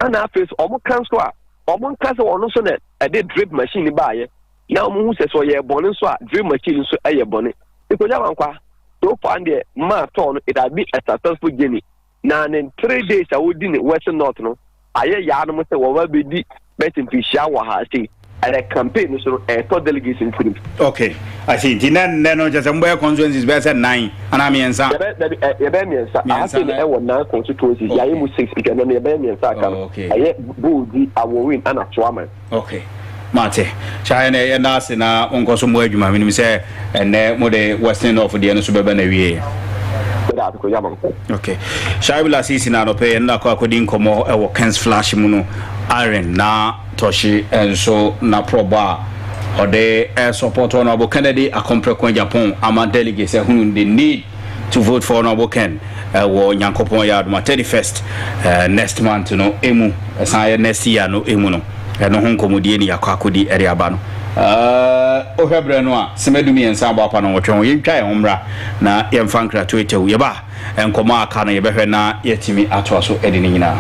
ana afei so wɔn ka nso a wɔn nka sɛ wɔn nso na ɛde drip machine baayɛ na wɔn hu sɛ sɛ ɔyɛ bɔne nso a drill machine no nso yɛ bɔne nkogya wankwa so far no deɛ maa tɔɔ no it has been a successful journey na ne three days a wɔdi ne western north no ayɛ yaa no mo sɛ wɔn abɛdi bɛsi mfinhyia wɔ ha sei ɛnɛ campaign no so no ɛtɔ delegates ntirim. okay i see nti na nnɛ no kyɛ sɛ mbɔyɛ constituencies bɛyɛ sɛ nnan anaa mmiɛnsa. yɛbɛyɛ mmiɛnsa ahase no ɛwɔ nnan constituencies yɛayɛ mu six nti ɛnɛ no yɛbɛyɛ mmiɛnsa aka no ɛyɛ boodi awɔwin ɛna toaman. Ok mate saa yɛ yɛ da ase na mo nkɔ so mo adwuma menim sɛ ɛnɛ mo de western off deɛ no so bɛbɛ na wieɛ. Okay. Shaibu Lasisi na anɔpɛ yɛn nakɔ akɔdi nkɔmmɔ ɛwɔ Kens Flash mu no Aaron na Tɔhye nso na prɔbɔ a ɔde ɛsɔpɔtɔ no abo Kennedy Akɔmprɛko Japan ama delegates ɛhunu the need to vote for honourable ken uh, wɔ nyankopɔn yɛ adoma 31st uh, next month no emu ɛsan yɛ next year no emu no ɛno ho nkɔmmɔdie ne yɛakɔ akɔdi ɛde aba no wohwɛ uh, berɛ no a sɛmadu mmiɛnsa abɔ apa no wɔtwe ho yɛntwa yɛn ho mmra na yɛmfa nkrato atɛw yɛba nkɔmmɔ aka no yɛbɛhwɛ na yɛatumi atoa so ɛde no nyinaa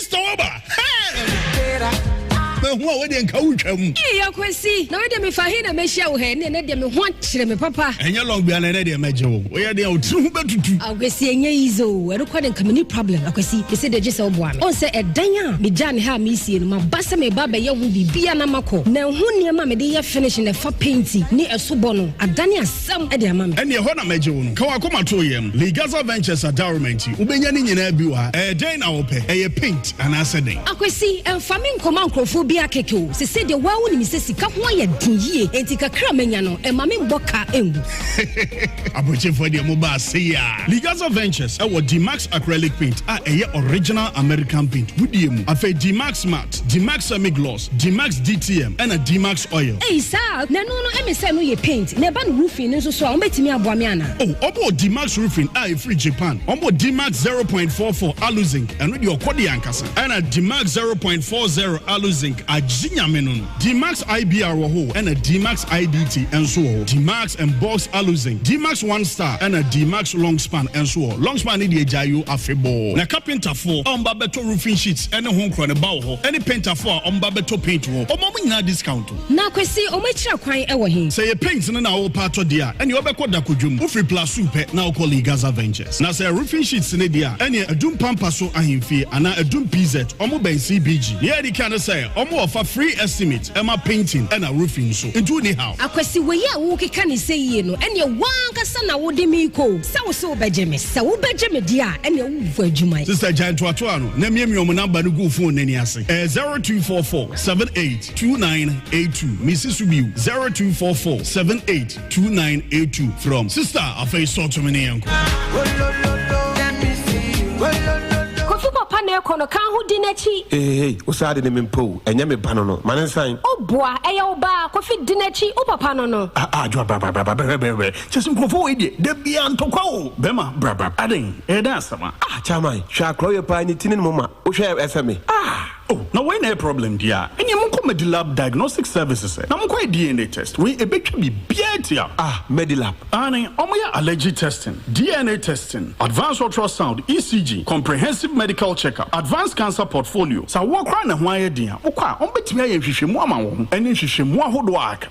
Stɔwɔba hɛɛm. Mahu a wei deɛ nka wotwa mu. Ee Akwasi, na wei deɛ mefa he na mɛhyia wo hɛ? Ɛnɛ deɛ me ho akyere me papa. Ɛnyɛ long bia na ɛnɛ deɛ mɛgye wo. Woyɛ deɛ wo tiri ho bɛtutu. Akwasi ɛnyɛ easy o, ɛno koraa deɛ nka menni problem. Akwasi, mese deɛ gye sɛ woboa me. Wohu sɛ ɛdan a megyaa no ha a meresie no, maba sɛ mereba abɛyɛ ho biribiara na makɔ. Manhu nneɛma a mede yɛ finish na ɛfa penti ne ɛso bɔ no adane ase. Sɛm de ama me. Ɛne ɛhɔ na mɛgye wo no. Ka w'akoma to yɛm. Lee Gaza Ventures Adaroma nti wobɛnya ne nyinaa bi wɔ ha. Ɛyɛ dɛn na wopɛ? Ɛyɛ paint anaasɛ dɛn? Akwasi, ɛmfa me nkɔma nkurɔfoɔ bi akeke o. Sesei deɛ woaa wonim sɛ sika ho ayɛ den yie enti kakra a manya no mma me mmɔ ka ngu. Abrokyefoɔ deɛ moba ase yi aa. Lee Gaza Ventures wɔ Dmax Acrylic Paint a ɛyɛ original American paint. Wodie mu. Afei Dmax Matte, Dmax Semi Gloss. Dmax DTM ɛna Dmax oil. Ei saa a na ɛno no ɛme sɛ ɛno yɛ paint na ɛba no roofing no nso so a wɔbɛtumi aboa me anaa? Oh wɔbɔɔ Dmax roofing a ɛfiri Japan wɔbɔ Dmax zero point four four alu zinc ɛno deɛ ɔkɔ deɛ ankasa ɛna Dmax zero point four zero alu zinc agye nyame no no Dmax IBR wɔ hoo ɛna Dmax IDT nso wɔ hɔ Dmax and box alu zinc Dmax one star ɛna Dmax long span nso wɔ hɔ long span no deɛ gyae yoo afebɔɔ na kapintafoɔ a wɔba bɛtɔ Roofing sheets ne ho nkorɔ no ba wɔ hɔ ne paintafo a wɔba bɛtɔ paint wɔ hɔ. Wɔma wɔn nyinaa discount o. Na Kwesi, wɔn akyira kwan wɔ he? Sɛ ɛyɛ paint no na worepɛ atɔ deɛ a, ɛneɛ wobɛkɔ Dakodwom. Wofiri Plasu pɛ na wokɔ Lee Gaza Ventures. Na sɛ roofing sheets no deɛ a, ɛneɛ Adum Pampaso Ahemfie anaa Adum PZ, wɔn bɛn CBG. Nea edi kan ne sɛ, wɔn wɔ fa free estimate ma painting ɛna roofing nso. Nti wonni haw. Akwasi, wei a worekeka no sɛ yie no, ɛneɛ wo ankasa na wode me rekɔ o. Sɛ wo se wobɛgye me? Sɛ wobɛgye me deɛ a, ɛneɛ. bɔ adwuma yi. Sister gyae ntoatoa no na miamia ɔmo namba no gu fone n'ani ase. Ɛyɛ zero two four four seven eight two nine eight two. Mesi so bio zero two four four seven eight two nine eight two from sister afei sɔ to me ne yɛn kɔ. Kofi papa na ɛkɔ no kan ho di n'akyi. Hehehe wo saa de ne me mpo o ɛnyɛ me ba no no ma ne nsan. O boa ɛyɛ wo ba a Kofi di n'akyi wo papa no no. Ah ah adwoa bra bra bra bra brɛbrɛbrɛbrɛ Kyɛ sɛ nkurɔfoɔ wei deɛ dabiaa ntɔkwa oo bɛɛma brabrab adɛn ɛyɛ dɛn asɛm a. Ah chairman hwɛ akorɔ yɛ paa ne ti ne ne moma wohwɛ a ɛfɛ me ah. Oh na wei na ɛyɛ problem deɛ a ɛneɛ monkɔ Medilab diagnostic services ɛ na monkɔ yɛ DNA test wei ɛbɛtwa biribiaa atia. Ah Medilab. Aane ɔmo yɛ allergy testing, DNA testing, advanced ultrasound, ECG, comprehensive medical check up, advanced cancer portfolio, sɛ awoɔ koraa na ɛho ayɛ den a mokɔ a ɔmo bɛtumi ayɛ nhwehwɛmu ama wo ho ɛne nhwehwɛmu ahodoɔ a aka.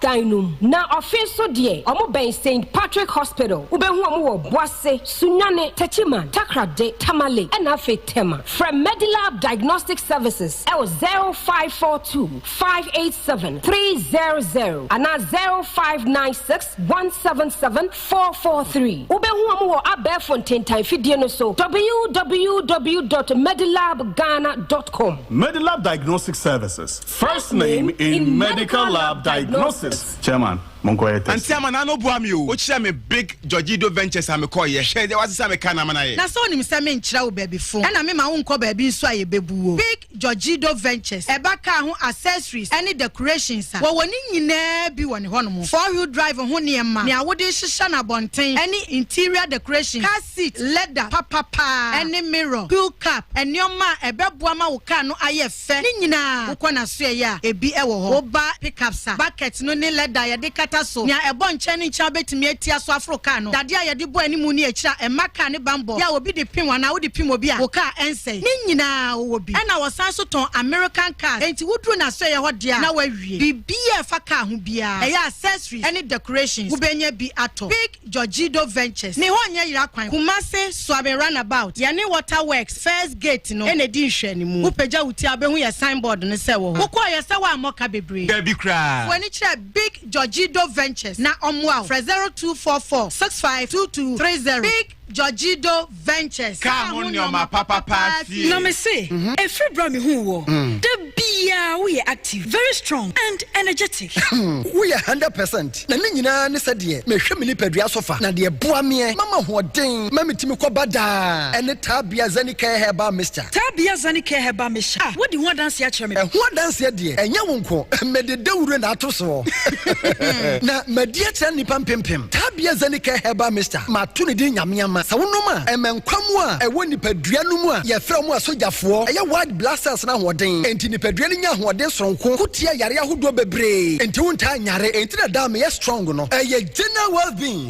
dan no mu. Na ɔfe so deɛ, ɔmo bɛn Saint Patrick Hospital, wobɛhu ɔmo wɔ Boase, Sunyani, Techiman, Takoradi, Tamale, ɛna afei Tema. Frɛ Medilab Diagnostic Services ɛwɔ 0542 587 300 anaa 0596 177 443. Wobɛhu ɔmo wɔ abɛɛfo ntentan fidie no so www dot medilabghana dot com. Medilab Diagnostic Services, First name in medical lab diagnosis. Chairman, monkɔ yɛ test. Auntie Amana no boa me o. Okyerɛ me Big Georgido Ventures a mekɔ yɛ. Hwɛ deɛ wasesa me car na Amana yɛ. Na sɛ onim sɛ menkyerɛ wo baabi fo ɛna me ma wo nkɔ baabi nso a yɛbɛbu wo. Big Georgido Ventures ɛba car ho accessories ɛne decorations a, wɔwɔ ne nyinaa bi wɔ ne hɔ nom. Four wheel drive ho nneɛma, nea wode hyehyɛ no abɔnten ɛne interior decoration, car seat leather papapaa ɛne mirror, peel cap, nneɛma a ɛbɛboa ma wo car no ayɛ fɛ. Sɛ ne nyinaa wokɔ n'asoɛeɛ a, ebi wɔ hɔ. Woba pickups a, bucket no ne lɛda a yɛde kata so nea ɛbɔ nkyɛn ne nkyɛn a wobɛtumi atia so aforo kaa no, dadeɛ a yɛde bɔ anim ne akyire a ɛmma kaa ne bammɔ yɛ a obi de pem anaa wode pem obi a wo kaa ɛnsɛe. Ne nyinaa wowɔ bi. Ɛnna wɔsan nso tɔn American cars, enti woduru n'asoɛeɛ hɔ deɛ a, na woawie. Biribiara a ɛfa kaa ho biara, ɛyɛ accessories ne decorations, wobɛnya bi atɔ. Pick Jorgido Ventures, Ne Hɔ Nyɛ Yera Kwan, Kumasi, Suaben Runabout, Yɛne Water Works, First Gate no na edi nhwɛanimu. Wopagya wo ti a, wubehu yɛn signboard no sɛ ɛwɔ hɔ. Wokɔɔ yɛ sɛ woammɔ ka bebree? Dabi koraa! Fa w'ani kyerɛ Big Jorgido Ventures na wɔmmoa wo. Frɛ 0244 65 2230. Big Jorgido. ventures, kaa ho nneɛma papa paa sie. Na me se, ɛfiri berɛ a mehuu woɔ, da biara woyɛ active, very strong and energetic. Woyɛ hundred percent, na ne nyinaa ne sɛdeɛ mehwɛ me nipadua so fa, na deɛ ɛboa meɛ ma mahoɔden ma metumi kɔba daa, ɛne Tabia Zenicare Herbal Mixture. Taa bia zani kɛ hɛ ba me hyɛ a wodi ho adanseɛ akyerɛ me paa. Ɛho adanseɛ deɛ ɛnyɛ wo nko mede dawuro na ato soɔ na madi akyerɛ nnipa mpempem. Taa bia zani kɛ hɛ ba Mister mato ne din Nyame ama sɛ wonom a ɛma nkwa mu a ɛwɔ nipadua no mu a yɛfrɛ wɔn asogyafoɔ ɛyɛ white blood cells no ahoɔden enti nipadua no nya ahoɔden soronko ko tia yareɛ ahodoɔ bebree enti wontaa nyare enti na daa meyɛ strong no ɛyɛ general well being.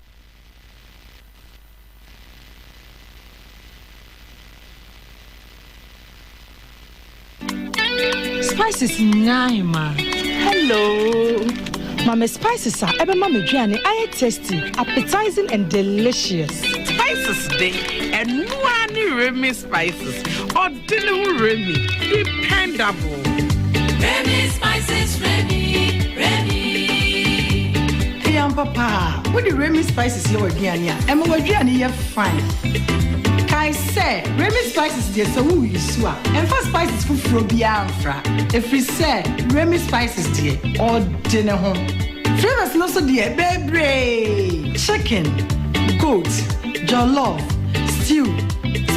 spices nyinaa ma hello ma me spices a ɛbɛma m'aduane ayɛ tasty appetizing and delicious spices de ɛnoa ne remi spices Di ne ho Remy, dependable. Remy spices, Remy, Remy. Ɛyɛ ampa paa, wode Remy spices yɛ w'aduane a, ɛma w'aduane yɛ fine. Kae sɛ, Remy spices deɛ sɛ woyi so a, ɛmfa spices foforɔ biara mfra, ɛfiri sɛ Remy spices deɛ ɔde ne ho. Flavors no so deɛ bebree, chicken, goat, Jollof, stew,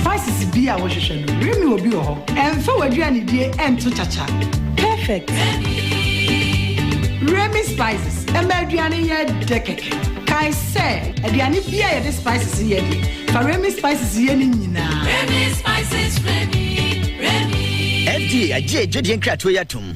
spices biaa wohwehwɛ no Remy obi wɔ hɔ. Ɛmfa w'aduanedie ɛnto kyakya. Perfect! Remy Spices ɛma aduane yɛ dɛ kɛkɛ. Kae sɛ, aduane biaa a yɛde spices yɛ deɛ, fa Remy Spices yɛ no nyinaa. Remy Spices, Remy, Remy. FDA agye adwadie nkratoɔ yi atom.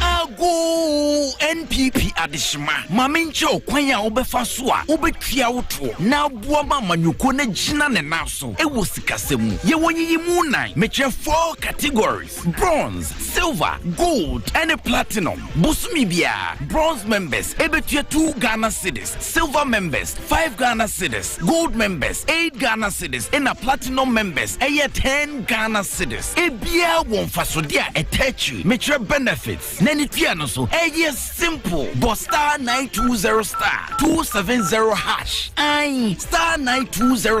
Agoo! NPP adehyema, ma menkyerɛ wo kwan a wobɛfa so a wobɛtua wo toɔ na aboa ma amanyɔkuo no agyina ne nan so wɔ sikasɛm mu. Yɛwɔ nyiyimu nnan, mekyerɛ four categories, bronze, silver, gold ne platinum. Bosome biara, bronze members bɛtua two Ghana cedis, silver members, five Ghana cedis, gold members, eight Ghana cedis, ɛna platinum members ɛyɛ ten Ghana cedis. Ebiara wɔ mfasodeɛ a ɛtɛ akyiri. Mekyerɛ benefits na ne tua no so. Ɛyɛ simple. Bɔ star nine two zero star two seven zero hash. Ae, star nine two zero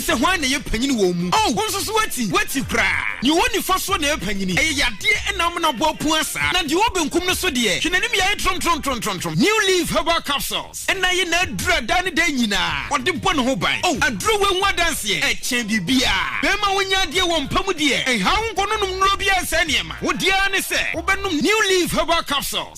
sɛ hwan na ɛyɛ panyin wɔ wɔn mu. Oh, wo nso so woati, woati koraa. Nea ɔwɔ nifa soɔ na ɛyɛ panyini. Ɛyɛ yadeɛ ɛna ama no abɔ apua saa. Na deɛ ɔwɔ benkum no so deɛ, hwɛ n'anim yaeɛ tromtromtromtromtrom. New Leaf Herbal Capsules ɛna ayɛ n'aduro a daa ne daa nyinaa ɔde bɔ ne ho ban. Oh, aduro wei ho adanseɛ ɛkyɛn biribiara. Bɛrima a wonnya adeɛ wɔ mpa mu deɛ, ɛnhaw wo nkɔ no nom nnuro biara nsɛe nneɛma. Wo deɛ ara ne sɛ wobɛnom New Leaf Herbal Capsules.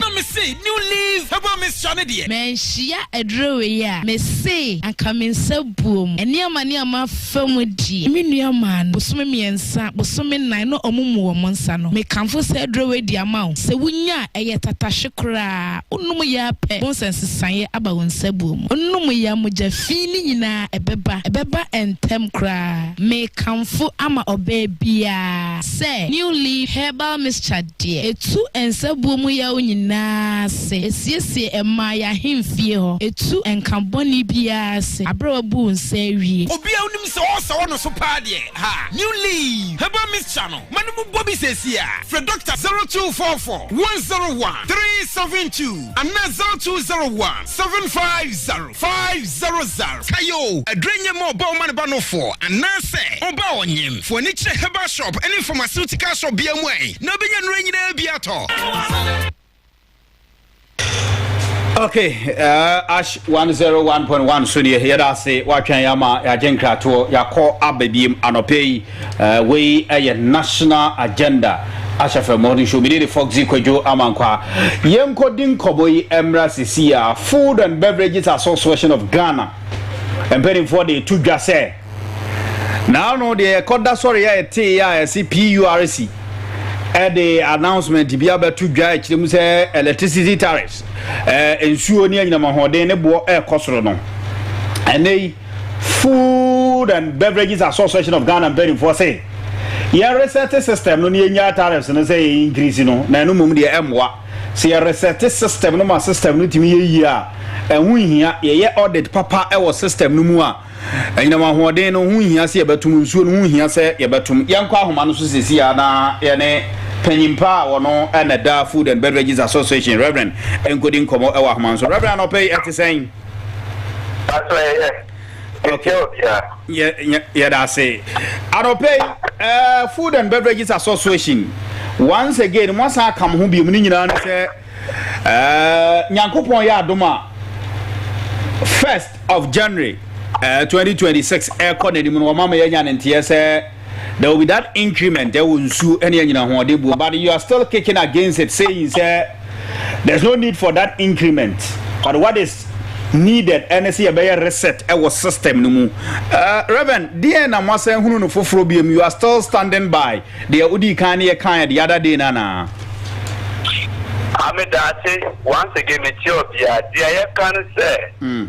Na me se new leaf herbal mixture ne deɛ. Manhyia aduro wei a me se anka me nsa buo mu. Nneɛma ne a mafa mu deɛ me nua maa no bosome mmiɛnsa, bosome nnan na ɔmo mu wɔn nsa no. Me kamfo saa aduro wei de ama wo. Sɛ wo nya a ɛyɛ tatahwe koraa, wo nom yɛ ara pɛ bohu sɛ nsesaeɛ aba wo nsa buo mu. Wo nom yɛ a mogya fii ne nyinaa ɛbɛba, ɛbɛba ntɛm koraa. Me kamfo ama ɔbaa biara sɛ new leaf herbal mixture deɛ. deɛ ɛtu nsabuo mu yaw nyinaa ase, ɛsiesie ɛmaa yɛn ahemfie hɔ, ɛtu nka bɔne biara ase aberɛ a wabu wo nsa awie. Obiara nim sɛ ɔɔsa wɔ no so paa deɛ ha new leaf herbal mixture no ma no mu bɔ bi seesei a frɛ doctor zero two four four one zero one three seven two anaa zero two zero one seven five zero. Five zero zero kae o aduro nyɛ ma ɔba ɔma ne ba nofoɔ anaa sɛ ɔba ɔnyem foɔ ani kyerɛ herbal shop ɛne pharmaceutical shop biara mu ae na ɔbɛnya nnuro nyinaa bi atɔ. ok uh, ash 101.1 so deɛ yɛda ase woatwɛn yɛ ama yɛagye nkratoɔ yɛakɔ aba biem anɔpɛ yi Wei yɛ National Agenda ahyɛfo mmɔ no show. Me ne Foxy Kwadwo Amankwa. Yɛnkɔ di nkɔmmɔ yi mmra sisi a Food and Beverages Association of Ghana mpanimfoɔ de to dwa sɛ naano deɛ yɛkɔda sɔre a ɛtee a ɛse PURC ɛde announcement bi abɛto dwa ɛkyerɛ mu sɛ electricity tariffs nsuo ne anyinam ahoɔden ne boɔ ɛrekɔ soro no ɛnɛ yi Food and Beverages Association of Ghana mpanimfoɔ se yɛ resɛte system no na yɛnyaa tariffs no sɛ yɛ increase no na ɛno mmom deɛ ɛmmoa. Sɛ yɛ resɛte system no ma system no tumi yɛ yie a, ɛho nhia yɛyɛ audit papa wɔ system no mu a anyinam ahoɔden no ho nhia sɛ yɛbɛtom, nsuo no ho nhia sɛ yɛbɛtom. Yɛnkɔ ahoma no so sɛsi ara na yɛne panyin pa a ɔno na ɛda Food and Beverages Association, Rev. Nkodi nkɔmmɔ wɔ ahoma no so. Rev. Anɔpa yi ɛte sɛn? Pastor yɛyɛ. Okay. Yɛdase. Anɔpɛ yi, uh, Food and Beverages Association, once again, mo asan aka mo ho biom ne nyinaa ne sɛ, uh, Nyankopɔn yɛ adom a, first of January, uh, 2026, ɛkɔ n'anim no, wɔma ma yɛanya ne nteɛ sɛ, There will be that increment ɛwɔ nsuo ɛne anyina hoɔden buo but you are still kicking against it saying sɛ there's no need for that increment but what is needed ɛne sɛ yɛbɛyɛ reset ɛwɔ system no mu. Uh, Reverend, deɛ na moasan hunu no foforɔ biom you are still standing by deɛ wodii kan ne yɛkaeɛ the other day no anaa? Ame daase once again metie obiara deɛ yɛka no sɛ. Mm.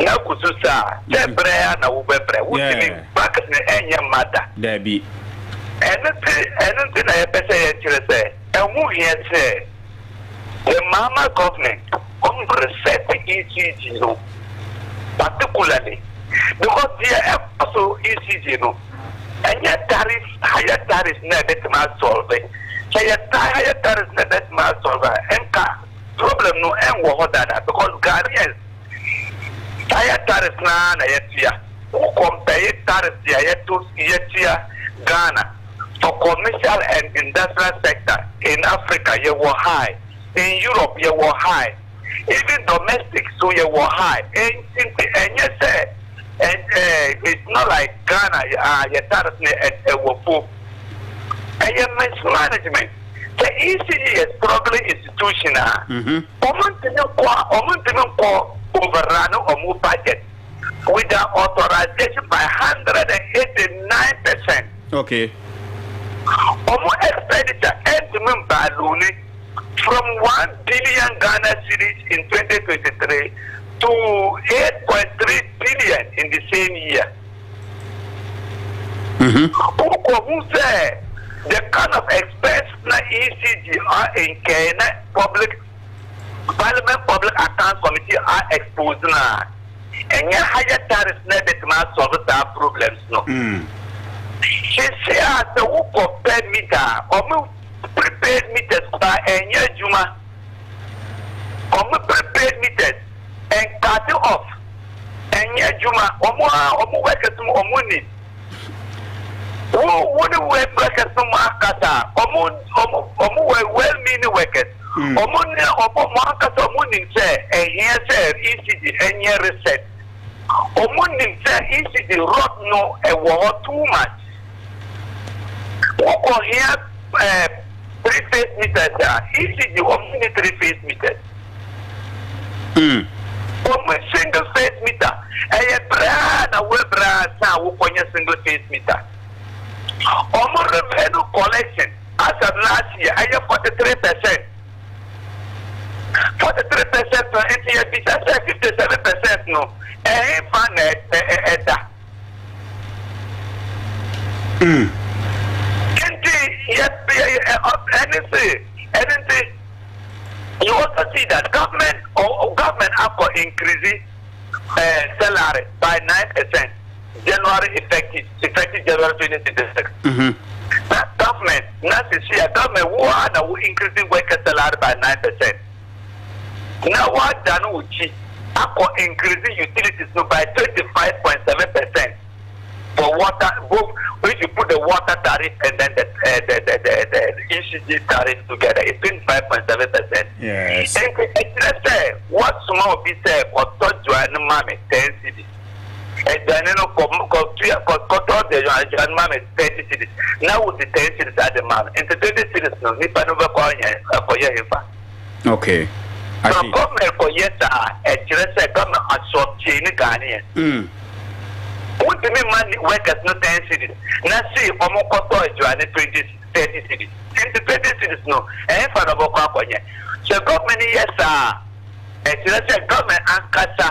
Na kusu sa a, sɛ brɛ ara na wobɛbrɛ. Wontumi mfa kɛse nyɛ mma da. Dabi. Ɛno nti, ɛno nti na yɛpɛ sɛ yɛkyerɛ sɛ ɛho hia sɛ the Mahama government reset ECG no particularly because deɛ ɛkɔ so ECG no ɛnyɛ tariff higher tariff na ɛbɛtumi asolve. Sɛ yɛtaa higher tariff na ɛbɛtumi asolve a, ɛnka. Problem no ɛnwɔ hɔ dada because Ghanaians tire tariffs no ara na yɛtua. Wo compare tariffs deɛ yɛto yɛtua Ghana for commercial and industrial sector in Africa yɛwɔ high, in Europe yɛwɔ high, even domestic so yɛwɔ high. Ɛnti nti ɛnyɛ sɛ ɛɛ it's not like Ghana ah yɛ tariff no ɛwɔ fo. Ɛyɛ mismanagement. Sɛ ECE yɛ struggling institution a, wɔn ntumi nkɔ wɔn ntumi nkɔ overrun wɔn budget with the authorization by hundred and eighty nine percent. Okay. Wɔn expenditure ɛntumi mbaaluni from one billion Ghana cedis in twenty twenty three to eight point three billion in the same year. Wokohun sɛ the kind of expense na ECG a incurred na public Parliament Public Accounts Committee a expose no a, ɛnyɛ higher tariffs na ɛbɛtumi a solve saa problems no. Seesei a sɛ wokɔ pɛ meter a, wɔn prepaid meters koraa ɛnyɛ adwuma. Wɔn prepaid meters. Nkate of ɛnyɛ adwuma ɔmo aa ɔmo workers mu ɔmo nni wo wo ne workers no mo akasa ɔmo ɔmo ɔmo wɔ well meaning workers mm. ɔmo ne ɔmo mo akasa ɔmo nim sɛ ɛhia sɛ ECD ɛnyɛ research ɔmo nim sɛ ECD rot no ɛwɔ hɔ too much wokɔ hia ɛɛ eh, three phase meters a ECD ɔmo ne three phase meters. mm. Omu single face meter ɛyɛ braa na wura braa ansa a wokɔ nyɛ single face meter. Omu revenue collection as at last year ɛyɛ forty three percent. Forty three percent no nti yɛ bisa sɛ fifty seven percent no ɛhenfa na ɛda. Mm. Nti yɛ ɛne se ɛne nti. You also see that government government akɔ increase eh, salary by nine percent January effective effective January twenty twenty six. Mm-hmm. Na government na sisi a government wo a na wo increase worker salary by nine percent. Na wadane wo kyi akɔ increase utilities no by twenty five point seven percent. the water both if you put the water tariff and then the uh, the, the, the, the ECG tariff together it's twenty five point seven percent. Yes. Nti ɛkyerɛ sɛ wɔsoma obi sɛ kɔtɔ dwan ma me ten cedis. Aduane no kɔ kɔ tua kɔ kɔtɔ dwan ma me thirty cedis na wodi ten cedis ade ma no nti twenty cedis no nipa no bɛkɔ yɛn ɛkɔyɛ hefa. Okay. I see. Sɛ government kɔ yɛ saa a, ɛkyerɛ sɛ government asɔptie ne Ghanaian. Mm. Wontumi ma ne workers no ten cedis na sei wɔn kɔ tɔ aduane twenty thirty cedis. Nti twenty cedis no ɛhefa na wɔbɛkɔ akɔnyɛ? Sɛ government yɛ saa a, ɛkyerɛ sɛ government ankasa.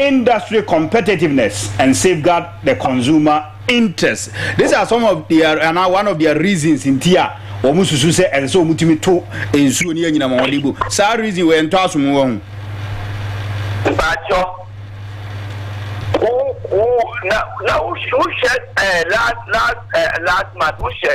industry competitiveness and safeguard the consumer interest these are some of the ana one of their reasons nti a wɔn susu sɛ ɛsɛ sɛ wɔn tumi to nsuo ne anyinam wɔn de gu saa reason wɔ yɛn ntɔ aso mu wɔn. mpatsɔ wo wo na na wohwɛ ɛɛ last last ɛɛ last month wohwɛ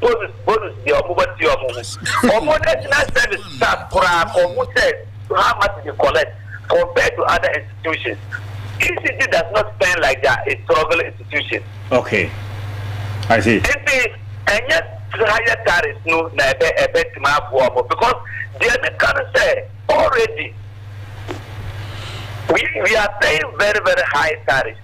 bonus bonus deɛ ɔmo bɛ tua ɔmo ho ɔmo national service staff koraa kɔ hu sɛ how much they collect compared to other institutions ECG does not spend like their a struggle institution. okay I see. nti ɛnyɛ higher tariffs no na ɛbɛ ɛbɛ tuma aboa ɔmo because deɛ mi ka no sɛ already we we are paying very very high tariffs.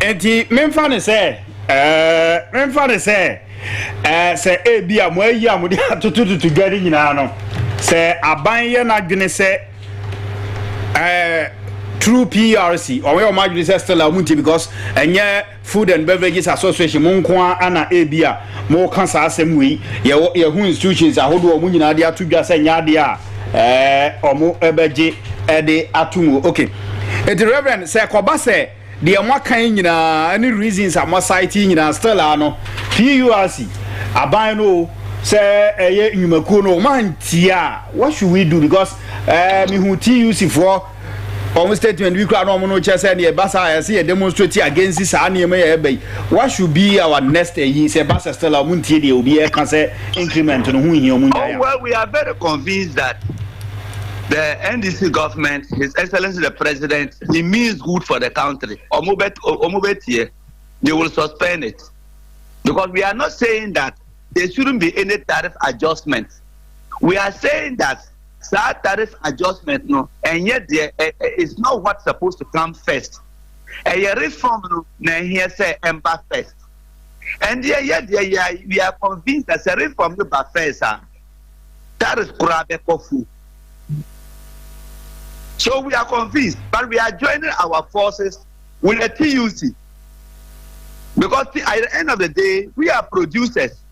Enti memfa no sɛ, ɛɛ, memfa no sɛ, ɛɛ, sɛ ebi a mo ayi a mo de atotototo dwa no nyinaa no, sɛ aban yɛ n'adwene sɛ, ɛɛ, through PRC, wɔn yɛ wɔn adwene sɛ still a wɔn nti because ɛnyɛ Food and Beverages Association mo nko ara na ebi a mo ka saa asɛm wei, yɛwɔ yɛho institutions ahodoɔ a wɔn nyinaa de ato dwa sɛ nyɛ adeɛ a. ɛɛ ɔmo ɛbɛgye ɛde ato mu ok eti reverend sɛ ɛkɔba sɛ deɛ mo aka yi nyinaa ɛne reasons a mo asite yi nyinaa still a no PURC aban no o sɛ ɛyɛ nnwumakuo no o mo antia a what should we do because ɛɛ mehu TUC foɔ wɔn statement bi koraa na wɔn no kyerɛ sɛ deɛ ɛba saa yɛsɛ yɛ demonstrate against saa nneɛma yɛ ɛba yi what should be our next ɛyi sɛ ɛba sɛ still a wɔn ntie deɛ obi ɛka sɛ increment no ho nhia wɔn nyinaa. oh well we are very convinced that the ndc government his excellence the president he means good for the country wɔn bɛ wɔn bɛ tie they will suspend it because we are not saying that there shouldn't be any tariff adjustment we are saying that. Saa tariff adjustment no ɛnyɛ deɛ ɛ ɛ is not what supposed to come first. Ɛyɛ reform no na ɛhia sɛ ɛmba first. Ɛndeɛ yɛ deɛ yɛ a we are convinced that sɛ reform no ba first a tariff koraa bɛkɔ fu. So we are convinced but we are joining our forces with the TUC because at the end of the day we are producers.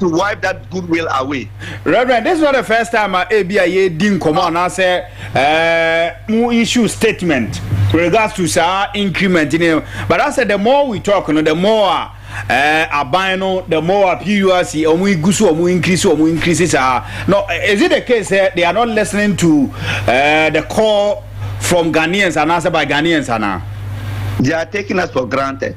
to wipe that goodwill away. Reverend, this is not the first time a ebi a yɛredi nkɔmɔ anaasɛ ɛɛ mo issue statement with regards to saa increment ne but asɛ the more we talk no the more a ɛɛ aban no the more a PURC wɔn egu so wɔn increase wɔn increase saa no is it the case sɛ they are not listening to ɛɛ the call from Ghanaians anaasɛ by Ghanaians ana. They are taking us for granted.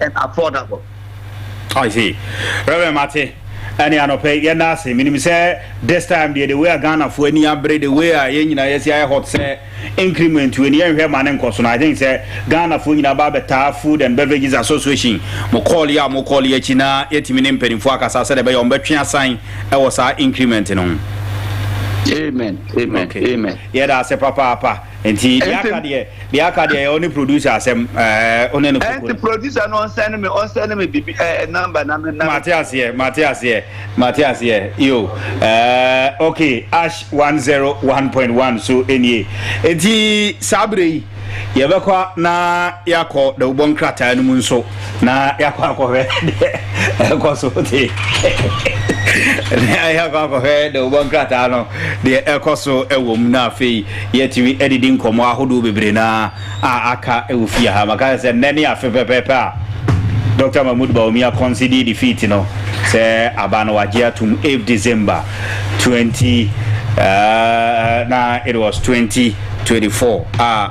and affordable. I see. Reverend Mate, ɛne anɔpɛ yi yɛda ase. Menim sɛ this time deɛ the way a Ghanafoɔ ani abere, the way a yɛn nyinaa yɛsi ayɛ hot sɛ increment wei ni yɛnhwɛ ma ne nkɔ so no. I think sɛ Ghanafoɔ nyinaa ba abɛtaa Food and Beverages Association mo call yi a mo call yi akyi na yɛtumi ne mpanimfoɔ akasa sɛdeɛ ɛbɛyɛ wɔn bɛtwe asan wɔ saa increment no ho. Amen. Amen. Okay. Amen. Yɛda ase papaapa. Nti deɛ aka deɛ deɛ aka deɛ yɛ ɔne producer asɛm ɛɛ ɔne ne koko. Ɛnti producer no ɔnsɛn ne me ɔnsɛn ne me bibi ɛɛ eh, number na me na. Mate aseɛ mate aseɛ mate aseɛ yo ɛɛ ok ash one zero one point one so enie nti saa abere yi yɛbɛkɔ na yɛakɔ dawubɔ nkrataa no mu nso. Na yɛakɔ akɔhwɛ deɛ ɛrekɔ so te. Na yɛakɔ akɔhwɛ dawubɔ nkrataa no deɛ ɛrekɔ so wɔ mu na afei yɛatumi adidi nkɔmmɔ ahodoɔ bebree no a aka wɔ fie ha. Maka sɛ nnɛ ne afe pɛpɛɛpɛ a Dɔkta Mahmoud Bawumia conceded defeat no sɛ aba no wagye atom 8 December 20 uh, na it was 2024 a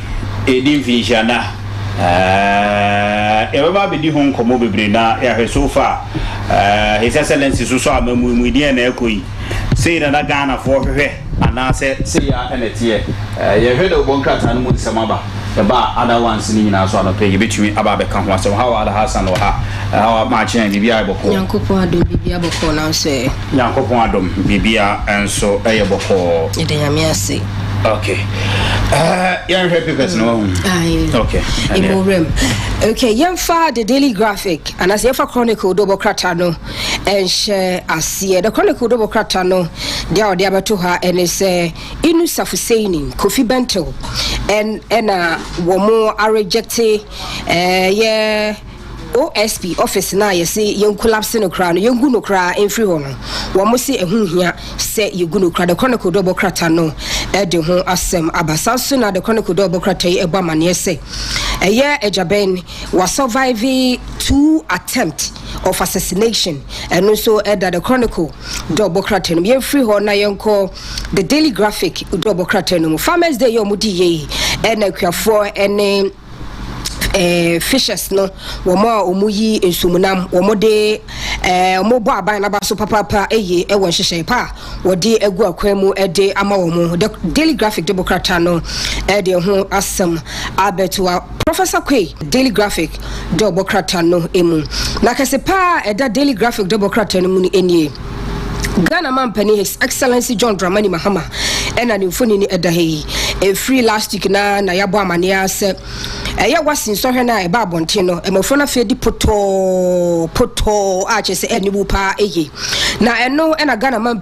Yɛredi mfinhyia nna a, yɛbɛba abɛdi ho nkɔmmɔ bebree na yɛahwɛ so far. His Excellency nso sɔ amammui mu, deɛn na ɛrekɔ yi? Sei na na Ghanafoɔ hwehwɛ anaasɛ sei ara na ɛteɛ? Yɛhwɛ dɛ wobɔ nkrataa no mu nsɛm aba. Ɛba a, other ones no nyinaa nso anɔpa yi yɛbɛtumi aba abɛka ho asɛm. How are Alhassan wɔ ha? How are Maakye? Biribiara yɛ bɔkɔɔ? Nyankopɔn adom biribiara bɔkɔɔ nanso ɛ. Nyankopɔn adom biribiara nso yɛ bɔkɔɔ. Yɛda Nyame ase. Okay. Uh, yɛnhwɛ papers no wahu. Mm. Okay. Ɛmu wuram. Okay, yɛmfa the daily graphic anaasɛ yɛmfa chronicle dɔbɔ krata no ɛnhyɛ aseɛ. The chronicle dɔbɔ krata no deɛ a ɔde abɛto ha ɛne sɛ Inu Safuseini Kofi Bentil ɛna wɔn arejecte ɛyɛ OSP office no a yɛse yɛn collapse no koraa no, yɛngu no koraa mfiri hɔ no, wɔn se ɛho nhia sɛ yɛgu no koraa. The Chronicle de ɔbɔ krata no de ho asɛm aba. Saa nso na The Chronicle de ɔbɔ krata yi bɔ amaneɛ sɛ ɛyɛ Agyabɛn wa survive two attempt of assassination. Ɛno nso ɛda The Chronicle de ɔbɔ krata no mu. Yɛmfiri hɔ na yɛnkɔ The Daily Graphic de ɔbɔ krata no mu. Farmers Day yɛ wɔn di yie ɛna akuafoɔ ne eh, fishes no, wɔn a wɔyi nsumunam, wɔde eh, wɔbɔ aban naba so papaapa eye wɔ nhyehyɛe pa a wɔde agu akwan mu de ama wɔn. The Daily Graphic de bokrata no eh, de ho asɛm abɛtoa Professor Kwe Daily Graphic de ɔbɔkrata no mu. Na kɛse paa ɛda Daily Graphic de bokrata no mu no nie. Ghana Mampanin His Excellency John Dramani Mahama ɛna ne mfoni no ɛda ha yi. Ɛfiri last week na na yɛabɔ amaneɛ ara sɛ ɛyɛ wasi nsɔhwɛ no a ɛba abɔnten no mmɔfra no afei di potɔɔ potɔɔ a kyerɛ sɛ ɛne wu paa ɛyɛ na ɛno ɛna Ghana Mampanin